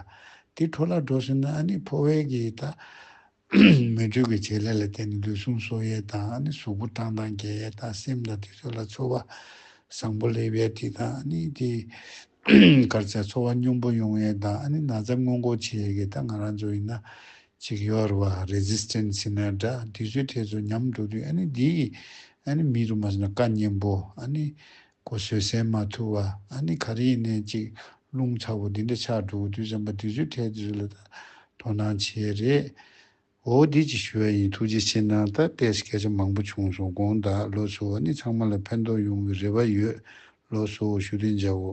དེ་འཕྲོ་བརླག་འགྲོ་སོང་ན་ནི་ཕོ་བའི་གི་རྟ་མོས་སྤྲོས་ཀྱི་བྱེད་ལས་ལ་བརྟེན་ནས་ལུས་ཟུངས་གསོ་ཡས་དང་གཟུགས་པོ་བཀྲག་མདངས་རྒྱས་ཡས་དང་སེམས་དང་དུས་ཚོད་ལ་འཚོ་བ་བཟང་པོ་ལེགས་པའི་དུས་དང་དེའི་སྐར་ཆ་འཚོ་བ་སྙོམས་པོ་ཡོང་ཡས་དང་ན་ཚ་སྔོན་འགོག་བྱེད་ཡས་ཀྱི་ད་ང་རང་ཚོ་ཡིན་ན་ཅིག་ཡོར་བ Resistant Sinner འདྲ་དུས་ཚོད་ཐད་ཚོ་ཉམས་འགྲོ་དུས་འདིའི་མི་རུ་མ་ཟིན་ན་བཀའ་གཉན་པོ་གོ་བཟོད་བསྲན་མ་ཐུབ་བ་ཨ་ནི་ག་རེ་ཡིན་ནའི་གཅིག་རླུང་ཚ་བོ་འདི་འདྲ་ཆགས་འགྲོ་གི་དུས་བྱམས་པ་དུས་ཚོད་ཐལ་དུས་ཚོད་ལ་དོ་སྣང་བྱེད་རེད། འོ་འདི་ཅིག་ཞུ་ཡ་ཡིན་ཐུགས་རྗེ་ཆེ་གནང་ད་ལྟས་སྐད་ཆ་མང་པོ་བྱུང་སོང་དགོངས་དག་ལོ་སོ་བ་ནི་ཚང་མ་ལ་ཕན་ཐོག་ཡོང་གི་རེ་བ་ཡོད་ལོ་སོ་བོ་ཞུ་དོན་བྱ་འོ།